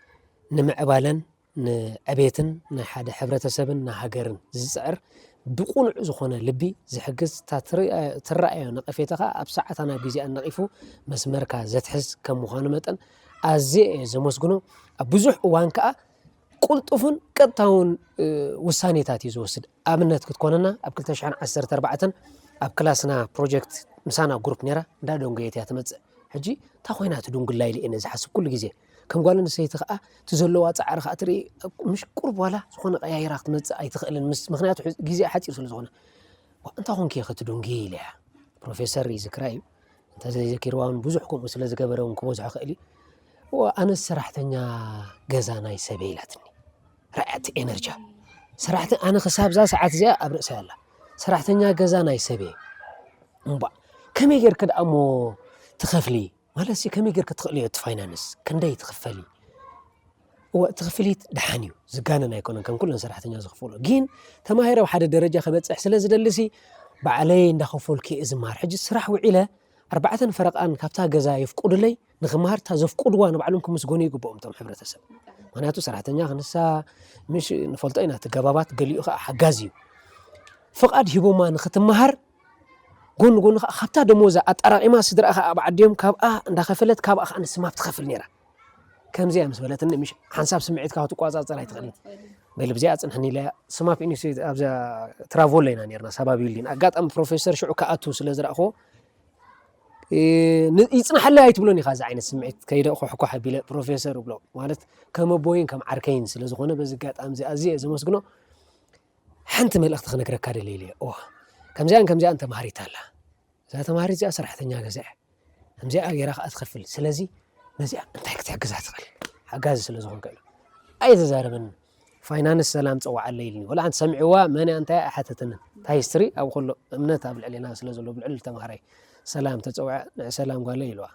ንምዕባለን ንዕቤትን ናይ ሓደ ሕብረተሰብን ንሃገርን ዝጽዕር ብቁኑዕ ዝኾነ ልቢ ዝሕግዝ እታ ትረኣዮ ነቐፌታ ከኣ ኣብ ሰዓታን ኣብ ግዜኣን ነቒፉ መስመርካ ዘትሕዝ ከም ምዃኑ መጠን ኣዝየ እየ ዘመስግኖ ኣብ ብዙሕ እዋን ከኣ ቁልጡፍን ቀጥታውን ውሳኔታት እዩ ዝወስድ። ኣብነት ክትኮነና ኣብ ክልተ ሽሕን ዓሰርተ ኣርባዕተን ኣብ ክላስና ፕሮጀክት ምሳና ግሩፕ ነይራ እንዳ ደንጎየት እያ ትመጽእ ሕጂ እንታይ ኮይና ትድንጉላ ኢለ እየ ዝሓስብ ኩሉ ግዜ ከም ጓል ኣንስተይቲ ከዓ እቲ ዘለዋ ፃዕሪ ከዓ ትርኢ ምሽ ቁርብ ዋላ ዝኾነ ቀያይራ ክትመፅእ ኣይትኽእልን ምስ ምክንያቱ ሕዚ ግዜኣ ሓፂር ስለ ዝኾነ ዋ፣ እንታይ ኮንኪ እየ ክትድንጉ ኢለ እያ ፕሮፌሰር ይዝክራ እዩ እንተዘይዘኪርዋ እውን ብዙሕ ከምኡ ስለ ዝገበረ እውን ክበዝሖ ክእል እዩ ዋ፣ ኣነስ ሰራሕተኛ ገዛ ናይ ሰበይ ኢላትኒ ራዕዲ ኤነርጅያ ሰራሕተ ኣነ ክሳብ እዛ ሰዓት እዚኣ ኣብ ርእሰይ ኣላ ሰራሕተኛ ገዛ ናይ ሰብ እየ እምባ ከመይ ጌርክ ደኣ እሞ ትኸፍሊ ማለት ሲ ከመይ ጌርክ ትኽእሊ እዮ እቲ ፋይናንስ ክንደይ ትኽፈሊ እወ እቲ ክፍሊት ደሓን እዩ ዝጋነን ኣይኮነን ከም ኩለን ሰራሕተኛ ዝኽፍሎ ግን ተማሂረ ኣብ ሓደ ደረጃ ከበፅሕ ስለ ዝደልሲ ባዕለይ እንዳኸፈልኩ እየ ዝመሃር ሕጂ ስራሕ ውዒለ ኣርባዕተን ፈረቃን ካብታ ገዛ የፍቁድለይ ንክምሃርታ ዘፍቁድዋ ንባዕሎም ክምስጎኑ ይግብኦም እቶም ሕብረተሰብ ምክንያቱ ሰራሕተኛ ክንሳ ምሽ ንፈልጦ ኢና እቲ ገባባት ገሊኡ ከዓ ሓጋዝ እዩ ፍቓድ ሂቦማ ንክትምሃር ጎኒ ጎኒ ከዓ ካብታ ደሞዛ ኣጠራቂማ ስድራ ከዓ ኣብ ዓዲዮም ካብኣ እንዳኸፈለት ካብኣ ከዓ ንስማብ ትኸፍል ነይራ ከምዚያ ምስ በለትኒ ምሽ ሓንሳብ ስምዒትካ ክትቆፃፀር ኣይትኽእልን ገሊ ብዚኣ ፅንሕኒ ኢለ ስማፕ ኢንስቲትዩት ኣብዛ ትራቮላ ኢና ነርና ሳባቢሊን ኣጋጣሚ ፕሮፌሰር ሽዑ ክኣቱ ስለ ዝረእኹዎ ይጽናሓለይ ኣይትብሎን ኢኻ እዚ ዓይነት ስምዒት ከይደ ኮሕኳሕ ኣቢለ ፕሮፌሰር እብሎ ማለት ከም ኣቦይን ከም ዓርከይን ስለ ዝኾነ በዚ ኣጋጣሚ እዚ ኣዝየ ዘመስግኖ ሓንቲ መልእኽቲ ክነግረካ ደልየ ኢለ እዋ ከምዚኣን ከምዚኣን ተማሃሪት ኣላ እዛ ተማሃሪት እዚኣ ሰራሕተኛ ገዛ እያ ከምዚኣ ገይራ ከዓ ትኸፍል ስለዚ ነዚኣ እንታይ ክትሕግዛ ትኽእል ሓጋዚ ስለ ዝኾንከ ኢሉ ኣይተዛረበንን ፋይናንስ ሰላም ጸዋዓለይ ኢልኒ ወላ ሓንቲ ሰሚዕዋ መን እያ እንታይ ኣይሓተተንን እታ ሂስትሪ ኣብ ኩሉ እምነት ኣብ ልዕሌና ስለ ዘሎ ብልዕሊ ተማሃራይ ሰላም ተጸውዐ ንዕ ሰላም ጓለይ ኢልዋ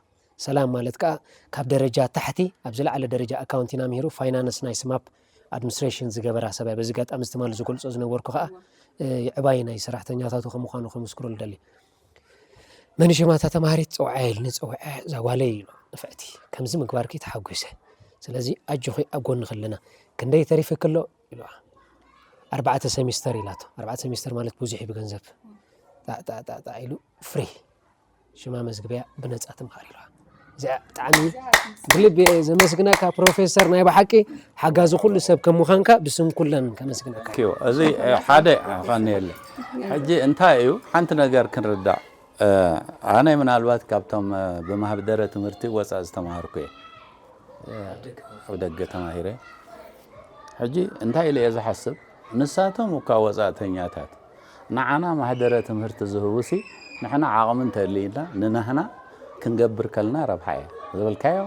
ሰላም ማለት ከዓ ካብ ደረጃ ታሕቲ ኣብ ዝለዓለ ደረጃ ኣካውንቲን ኣምሂሩ ፋይናንስ ናይ ስማፕ ኣድሚኒስትሬሽን ዝገበራ ሰብ እያ በዚ ኣጋጣሚ እዚ ትማሊ ዝገልጾ ዝነበርኩ ከዓ ዕባይ ናይ ሰራሕተኛታቱ ከም ምዃኑ ከምስክሮ ልደሊ መንሸማ እታ ተምሃሪት ፀውዓያ ኢሉኒ ፀዊዐ እዛ ጓለይ ኢሉ ንፍዕቲ ከምዚ ምግባርኪ ተሓጒሰ ስለዚ ኣጆኺ ኣብ ጎንኺ ኣለና ክንደይ ተሪፍኪ ኣሎ ኢልዋ ኣርባዕተ ሰሚስተር ኢላቶ ኣርባዕተ ሰሚስተር ማለት ብዙሕ እዩ ብገንዘብ ጣዕጣዕጣዕጣዕ ኢሉ ፍሪ ሽማ መዝግበያ ብነፃ ትምሃር ኢልዋ ብጣዕሚ ብልቢ እየ ዘመስግነካ ፕሮፌሰር ናይ ብሓቂ ሓጋዚ ኩሉ ሰብ ከም ምዃንካ ብስም ኩለን ከመስግነካ እዩ እዚ ሓደ ኸኒየለ ሕጂ እንታይ እዩ ሓንቲ ነገር ክንርዳእ ኣነ ምናልባት ካብቶም ብማህደረ ትምህርቲ ወፃእ ዝተማሃርኩ እየ ኣብ ደገ ተማሂረ ሕጂ እንታይ ኢለ እየ ዝሓስብ ንሳቶም እኳ ወፃእተኛታት ንዓና ማህደረ ትምህርቲ ዝህቡሲ ንሕና ዓቕሚ እንተልይና ንናህና ክንገብር ከልና ረብሓ እየ ዝበልካዮ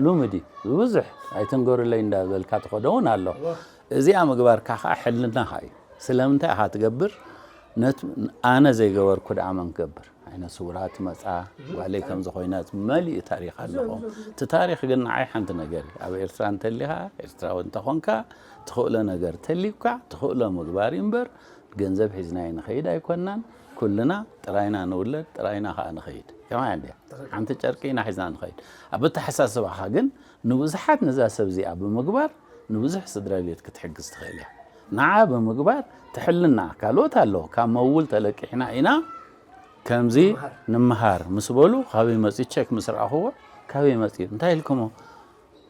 ሉምድ እዩ ብብዙሕ ኣይትንገሩለይ እንዳበልካ ትኸዶ እውን ኣሎ እዚኣ ምግባርካ ከዓ ሕልናኻ እዩ ስለምንታይ ኢኻ ትገብር ኣነ ዘይገበርኩ ደኣ መን ክገብር ዓይነ ስውራት መፃ ጓለይ ከም ዝኾይነት መሊኡ ታሪክ ኣለኹ እቲ ታሪክ ግን ንዓይ ሓንቲ ነገር እዩ ኣብ ኤርትራ እንተሊኻ ኤርትራዊ እንተኾንካ ትኽእሎ ነገር ተልዩካ ትኽእሎ ምግባር እዩ እምበር ገንዘብ ሒዝና ኣይንኸይድ ኣይኮናን ኩልና ጥራይና ንውለድ ጥራይና ከዓ ንኸይድ ከማይ እንዲያ ሓንቲ ጨርቂ ኢና ሒዝና ንኸይድ ኣብ ኣተሓሳስባኻ ግን ንብዙሓት ነዛ ሰብ እዚኣ ብምግባር ንብዙሕ ስድራ ቤት ክትሕግዝ ትኽእል እያ ንዓ ብምግባር ትሕልና ካልኦት ኣሎ ካብ መውል ተለቂሕና ኢና ከምዚ ንምሃር ምስ በሉ ካበይ መፅኡ ቸክ ምስ ረኣኹዎ ካበይ መፅኡ እንታይ ኢልኩሞ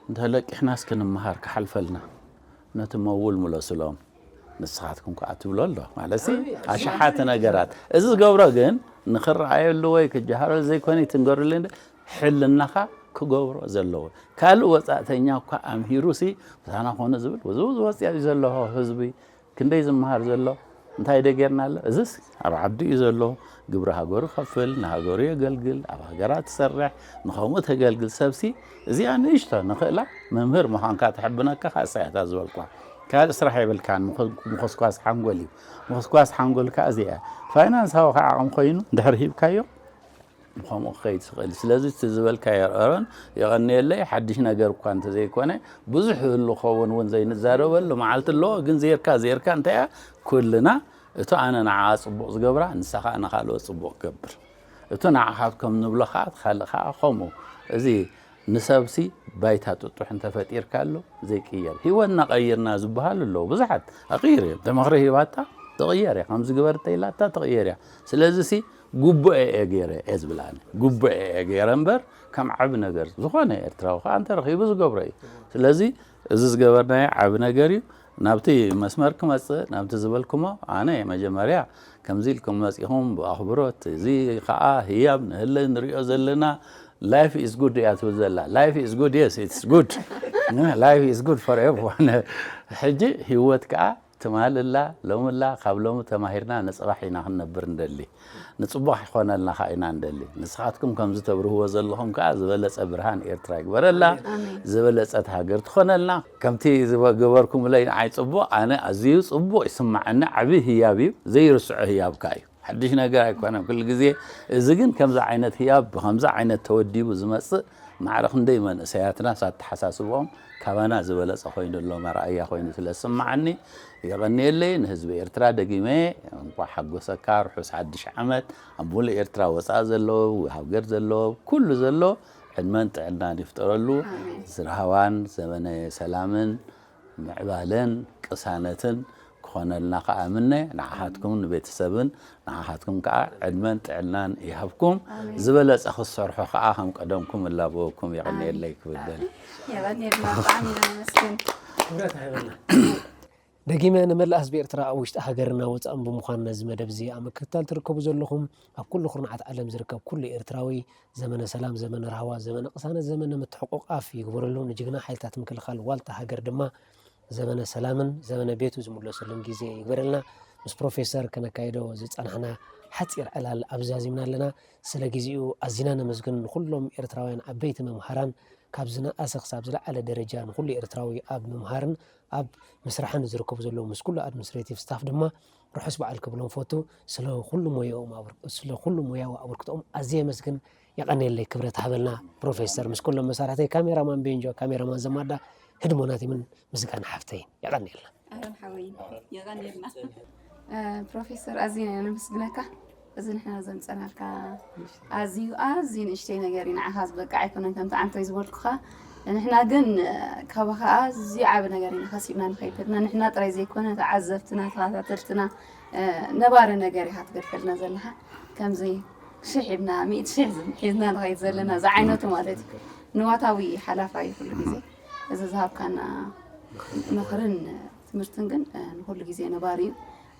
እንተለቂሕናስ ክንምሃር ክሓልፈልና ነቲ መውል ምለስሎም ንስኻትኩም ከኣ ትብሎ ኣሎ ማለትሲ ኣሽሓት ነገራት እዚ ዝገብሮ ግን ንክረኣየሉ ወይ ክጀሃረሉ ዘይኮነ ትንገርሉ እንደ ሕልናኻ ክገብሮ ዘለዎ ካልእ ወፃእተኛ እኳ ኣምሂሩሲ ብታና ኮነ ዝብል ብዙ ዝወፅያ እዩ ዘለዎ ህዝቢ ክንደይ ዝመሃር ዘሎ እንታይ ደ ጌርና ኣሎ እዚስ ኣብ ዓዱ እዩ ዘሎ ግብሪ ሃገሩ ይኸፍል፣ ንሃገሩ የገልግል፣ ኣብ ሃገራ ትሰርሕ፣ ንኸምኡ ተገልግል ሰብሲ እዚኣ ንእሽቶ ንኽእላ መምህር ምዃንካ ተሕብነካ ከኣ እሳ እያታ ዝበልኳ። ካልእ ስራሕ የብልካን ምኹስኳስ ሓንጎል እዩ። ምኹስኳስ ሓንጎል ከኣ እዚኣ እያ። ፋይናንሳዊ ከኣ ዓቕሚ ኮይኑ እንድሕር ሂብካዮ ብከምኡ ክኸይድ ዝኽእል ስለዚ እቲ ዝበልካዮ ኣሮን የቐንየለይ ሓድሽ ነገር እኳ እንተዘይኮነ ብዙሕ ይህሉ ኸውን እውን ዘይንዛረበሉ መዓልቲ ኣለዎ ግን ዜርካ ዜርካ እንታይ ኩልና እቱ ኣነ ንዓኣ ጽቡቕ ዝገብራ ንሳ ኸኣ ንኻልኦት ጽቡቕ ክገብር እቱ ንዓኻትከም ንብሎ ኸኣ እቲ ኻልእ ኸኣ ኸምኡ እዚ ንሰብሲ ባይታ ጥጡሕ እንተፈጢርካሉ ዘይቅየር ህይወትና ቀይርና ዝበሃሉ ኣለዉ ብዙሓት ኣቕይሩ እዮም ተመኽሪ ሂባታ ትቕየር እያ ከምዚ ግበር እንተኢላታ ትቕየር እያ ስለዚሲ ጉቡኤ እየ ገይረ እየ ዝብላ ኣነ ጉቡኤ እየ ገይረ እምበር ከም ዓቢ ነገር ዝኾነ ኤርትራዊ ኸኣ እንተረኺቡ ዝገብሮ እዩ ስለዚ እዚ ዝገበርናዮ ዓቢ ነገር እዩ። ናብቲ መስመር ክመጽእ ናብቲ ዝበልኩሞ ኣነ መጀመርያ ከምዚ ኢልኩም መጺኹም ብኣኽብሮት እዚ ከኣ ህያብ ንህለ ንሪኦ ዘለና ላይፍ ኢዝ ጉድ እያ ትብል ዘላ ላይፍ ኢዝ ጉድ የስ ኢትስ ጉድ ላይፍ ኢዝ ጉድ ፎር ኤቭሪዋን ሕጂ ህይወት ከኣ ትማል እላ ሎሚ እላ ካብ ሎሚ ተማሂርና ንጽባሕ ኢና ክንነብር እንደሊ ንጽቡቅ ኪኮነልና ከኣ ኢና እንደሊ ንስካትኩም ከምዚ ተብርህዎ ዘለኩም ከኣ ዝበለጸ ብርሃን ኤርትራ ይግበረላ ዝበለጸት ሃገር ትኮነልና ከምቲ ዝገበርኩምለይ ንዓይ ጽቡቅ ኣነ ኣዚዩ ጽቡቅ ይስማዓኒ ዓቢ ህያብ እዩ ዘይርስዖ ህያብካ እዩ። ሓድሽ ነገር ኣይኮነን ኩሉ ግዜ እዚ ግን ከምዚ ዓይነት ህያብ ብከምዚ ዓይነት ተወዲቡ ዝመጽእ ማዕረ ክንደይ መንእሰያትናስ ኣተሓሳስብኦም ካባና ዝበለጸ ኮይኑ ኣሎ መርኣያ ኮይኑ ስለ ዝስምዓኒ የቐንየለይ ንህዝቢ ኤርትራ ደጊመ እንቋዕ ሓጎሰካ ርሑስ ሓድሽ ዓመት ኣብ ሙሉእ ኤርትራ ወጻኢ ዘሎ ሃገር ዘሎ ኩሉ ዘሎ ዕድመን ጥዕናን ይፍጠረሉ ዝርሃዋን ዘመነ ሰላምን ምዕባለን ቅሳነትን ክኾነልና ከኣ እምነ ንዓኻትኩም ንቤተሰብን ንዓኻትኩም ከኣ ዕድመን ጥዕናን ይሃብኩም ዝበለጸ ክትሰርሑ ከኣ ከም ቀደምኩም እላበወኩም የቐንየለይ ክብል ደል የቐንየልና ብጣዕሚ ኢና ነመስግን ክብረት ሃበና ደጊመ ንመላእ ህዝቢ ኤርትራ ኣብ ውሽጢ ሃገርና ወጻእን ብምዃን ነዚ መደብ እዚ ኣብ ምክትታል ትርከቡ ዘለኹም ኣብ ኩሉ ኩርናዓት ዓለም ዝርከብ ኩሉ ኤርትራዊ ዘመነ ሰላም ዘመነ ራህዋ ዘመነ ቅሳነት ዘመነ ምትሕቁቃፍ ይግበረሉ ንጅግና ሓይልታት ምክልኻል ዋልታ ሃገር ድማ ዘመነ ሰላምን ዘመነ ቤቱ ዝምለሰሉን ግዜ ይግበረልና ምስ ፕሮፌሰር ከነካይዶ ዝጸናሕና ሓጺር ዕላል ኣብዛዚምና ኣለና ስለ ግዜኡ ኣዚና ነመስግን ንኩሎም ኤርትራውያን ዓበይቲ መምሃራን ካብ ዝነኣሰ ክሳብ ዝለዓለ ደረጃ ንኩሉ ኤርትራዊ ኣብ ምምሃርን ኣብ ምስራሕን ዝርከቡ ዘለዉ ምስ ኩሉ ኣድሚኒስትሬቲቭ ስታፍ ድማ ርሑስ በዓል ክብሎም ፈቱ ስለ ኩሉ ሞያኦም ስለ ኩሉ ሞያዊ ኣበርክቶኦም ኣዝየ የመስግን የቀኔለይ ክብረት ሃበልና ፕሮፌሰር ምስ ኩሎም መሳርሕተይ ካሜራማን ቤንጆ ካሜራማን ዘማዳ ህድሞናቲምን ምስጋና ሓፍተይ የቀኔልና ኣረን ሓወይ የቀኔልና ፕሮፌሰር ኣዝየ ነመስግነካ እዚ ንሕና ዘምጸናልካ ኣዝዩ ኣዝዩ ንእሽተይ ነገር እዩ ንዓኻ ዝበቅዕ ኣይኮነን ከምቲ ዓንተይ ዝበልኩኻ ንሕና ግን ካባኻ ኣዝዩ ዓቢ ነገር ኢና ከሲብና ንኸይድ ዘለና ንሕና ጥራይ ዘይኮነ ተዓዘብትና ተኸታተልትና ነባሪ ነገር ኢኻ ትገድፈልና ዘለኻ ከምዚ ሽሕ ኢልና ሚእቲ ሽሕ ሒዝና ንኸይድ ዘለና ዝዓይነቱ ማለት እዩ ንዋታዊ ሓላፋ እዩ ኩሉ ግዜ እዚ ዝሃብካና ምኽርን ትምህርትን ግን ንኩሉ ግዜ ነባሪ እዩ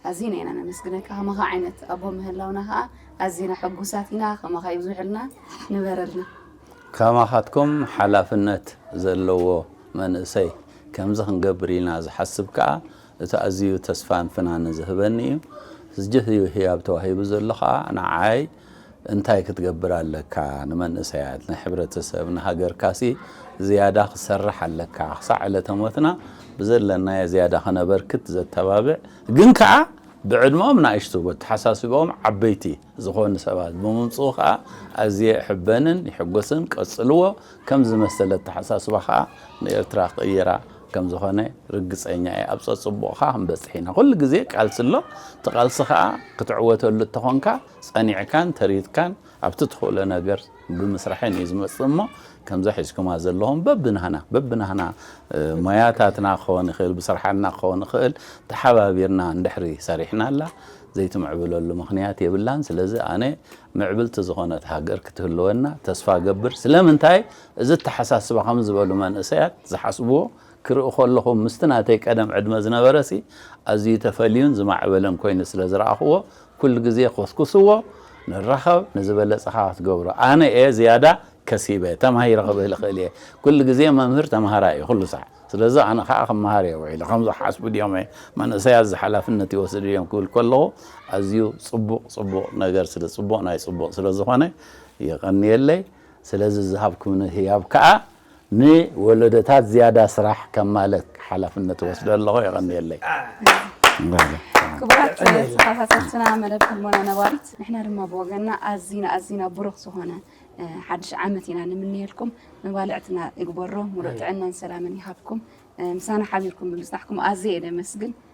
ኣዚና ኢና ነመስግነካ ከማኻ ዓይነት ኣቦ ምህላውና ከኣ ኣዚና ሕጉሳት ኢና ከማኻ ይብዝሑልና ንበረልና። ከማኻትኩም ሓላፍነት ዘለዎ መንእሰይ ከምዚ ክንገብር ኢና ዝሓስብ ከኣ እቲ ኣዚዩ ተስፋን ፍናንን ዝህበኒ እዩ። ስጅህ እዩ ህያብ ተዋሂቡ ዘሎ ከኣ ንዓይ እንታይ ክትገብር ኣለካ ንመንእሰያት ናይ ሕብረተሰብ ንሃገርካሲ ዝያዳ ክትሰርሕ ኣለካ ክሳዕ ዕለተ ሞትና ብዘለናዮ ዝያዳ ከነበርክት ዘተባብዕ ግን ከኣ ብዕድመኦም ናእሽቱ በተሓሳስበኦም ዓበይቲ ዝኾኑ ሰባት ብምምጽኡ ከኣ ኣዝየ እሕበንን ይሕጎስን ቀጽልዎ ከምዚ መሰል ኣተሓሳስባ ከኣ ንኤርትራ ክቕይራ ከም ዝኾነ ርግጸኛ እየ። ኣብ ጸጽቡቕኻ ክንበጽሕ ኢና። ኩሉ ግዜ ቃልሲ ኣሎ። እቲ ቃልሲ ከኣ ክትዕወተሉ እንተኾንካ ጸኒዕካን ተሪትካን ኣብቲ ትኽእሎ ነገር ብምስራሕን እዩ ዝመጽእ እሞ ከምዛ ሒዝኩማ ዘለኹም በብናህና በብናህና ሞያታትና ክኸውን ይኽእል ብስርሓና ክኸውን ይኽእል ተሓባቢርና እንድሕሪ ሰሪሕናላ ዘይትምዕብለሉ ምኽንያት የብላን። ስለዚ ኣነ ምዕብልቲ ዝኾነት ሃገር ክትህልወና ተስፋ ገብር። ስለምንታይ እዚ ኣተሓሳስባ ከም ዝበሉ መንእሰያት ዝሓስብዎ ክርኢ ከለኹ ምስቲ ናተይ ቀደም ዕድመ ዝነበረሲ ኣዝዩ ተፈልዩን ዝማዕበለን ኮይኑ ስለ ዝረኣኹዎ ኩሉ ግዜ ኮስኩስዎ ንራኸብ ንዝበለጸኻ ክትገብሮ ኣነ እየ ዝያዳ ከሲበ ተማሂረ ክብል እኽእል እየ ኩሉ ግዜ መምህር ተማሃራይ እዩ ኩሉ ሳዕ ስለዚ ኣነ ከኣ ክመሃር እየ ውዒለ ከምዚ ክሓስቡ ድዮም መንእሰያት እዚ ሓላፍነት ይወስዱ ድዮም ክብል ከለኹ ኣዝዩ ጽቡቕ ጽቡቕ ነገር ስለ ጽቡቕ ናይ ጽቡቕ ስለ ዝኾነ የቐንየለይ። ስለዚ ዝሃብኩምኒ ህያብ ከኣ ንወለዶታት ዝያዳ ስራሕ ከማልእ ሓላፍነት እወስዶ ኣለኹ። የቐንየለይ። ክቡራት ተኸታተልትና መደብ ሕሞና ነባሪት፣ ንሕና ድማ ብወገና ኣዚና ኣዚና ብሩኽ ዝኾነ ሓድሽ ዓመት ኢና ንምንየልኩም። መባልዕትና ይግበሮ፣ ሙሉእ ጥዕናን ሰላምን ይሃብኩም። ምሳና ሓቢርኩም ብምፅናሕኩም ኣዝየ እየ ደመስግን።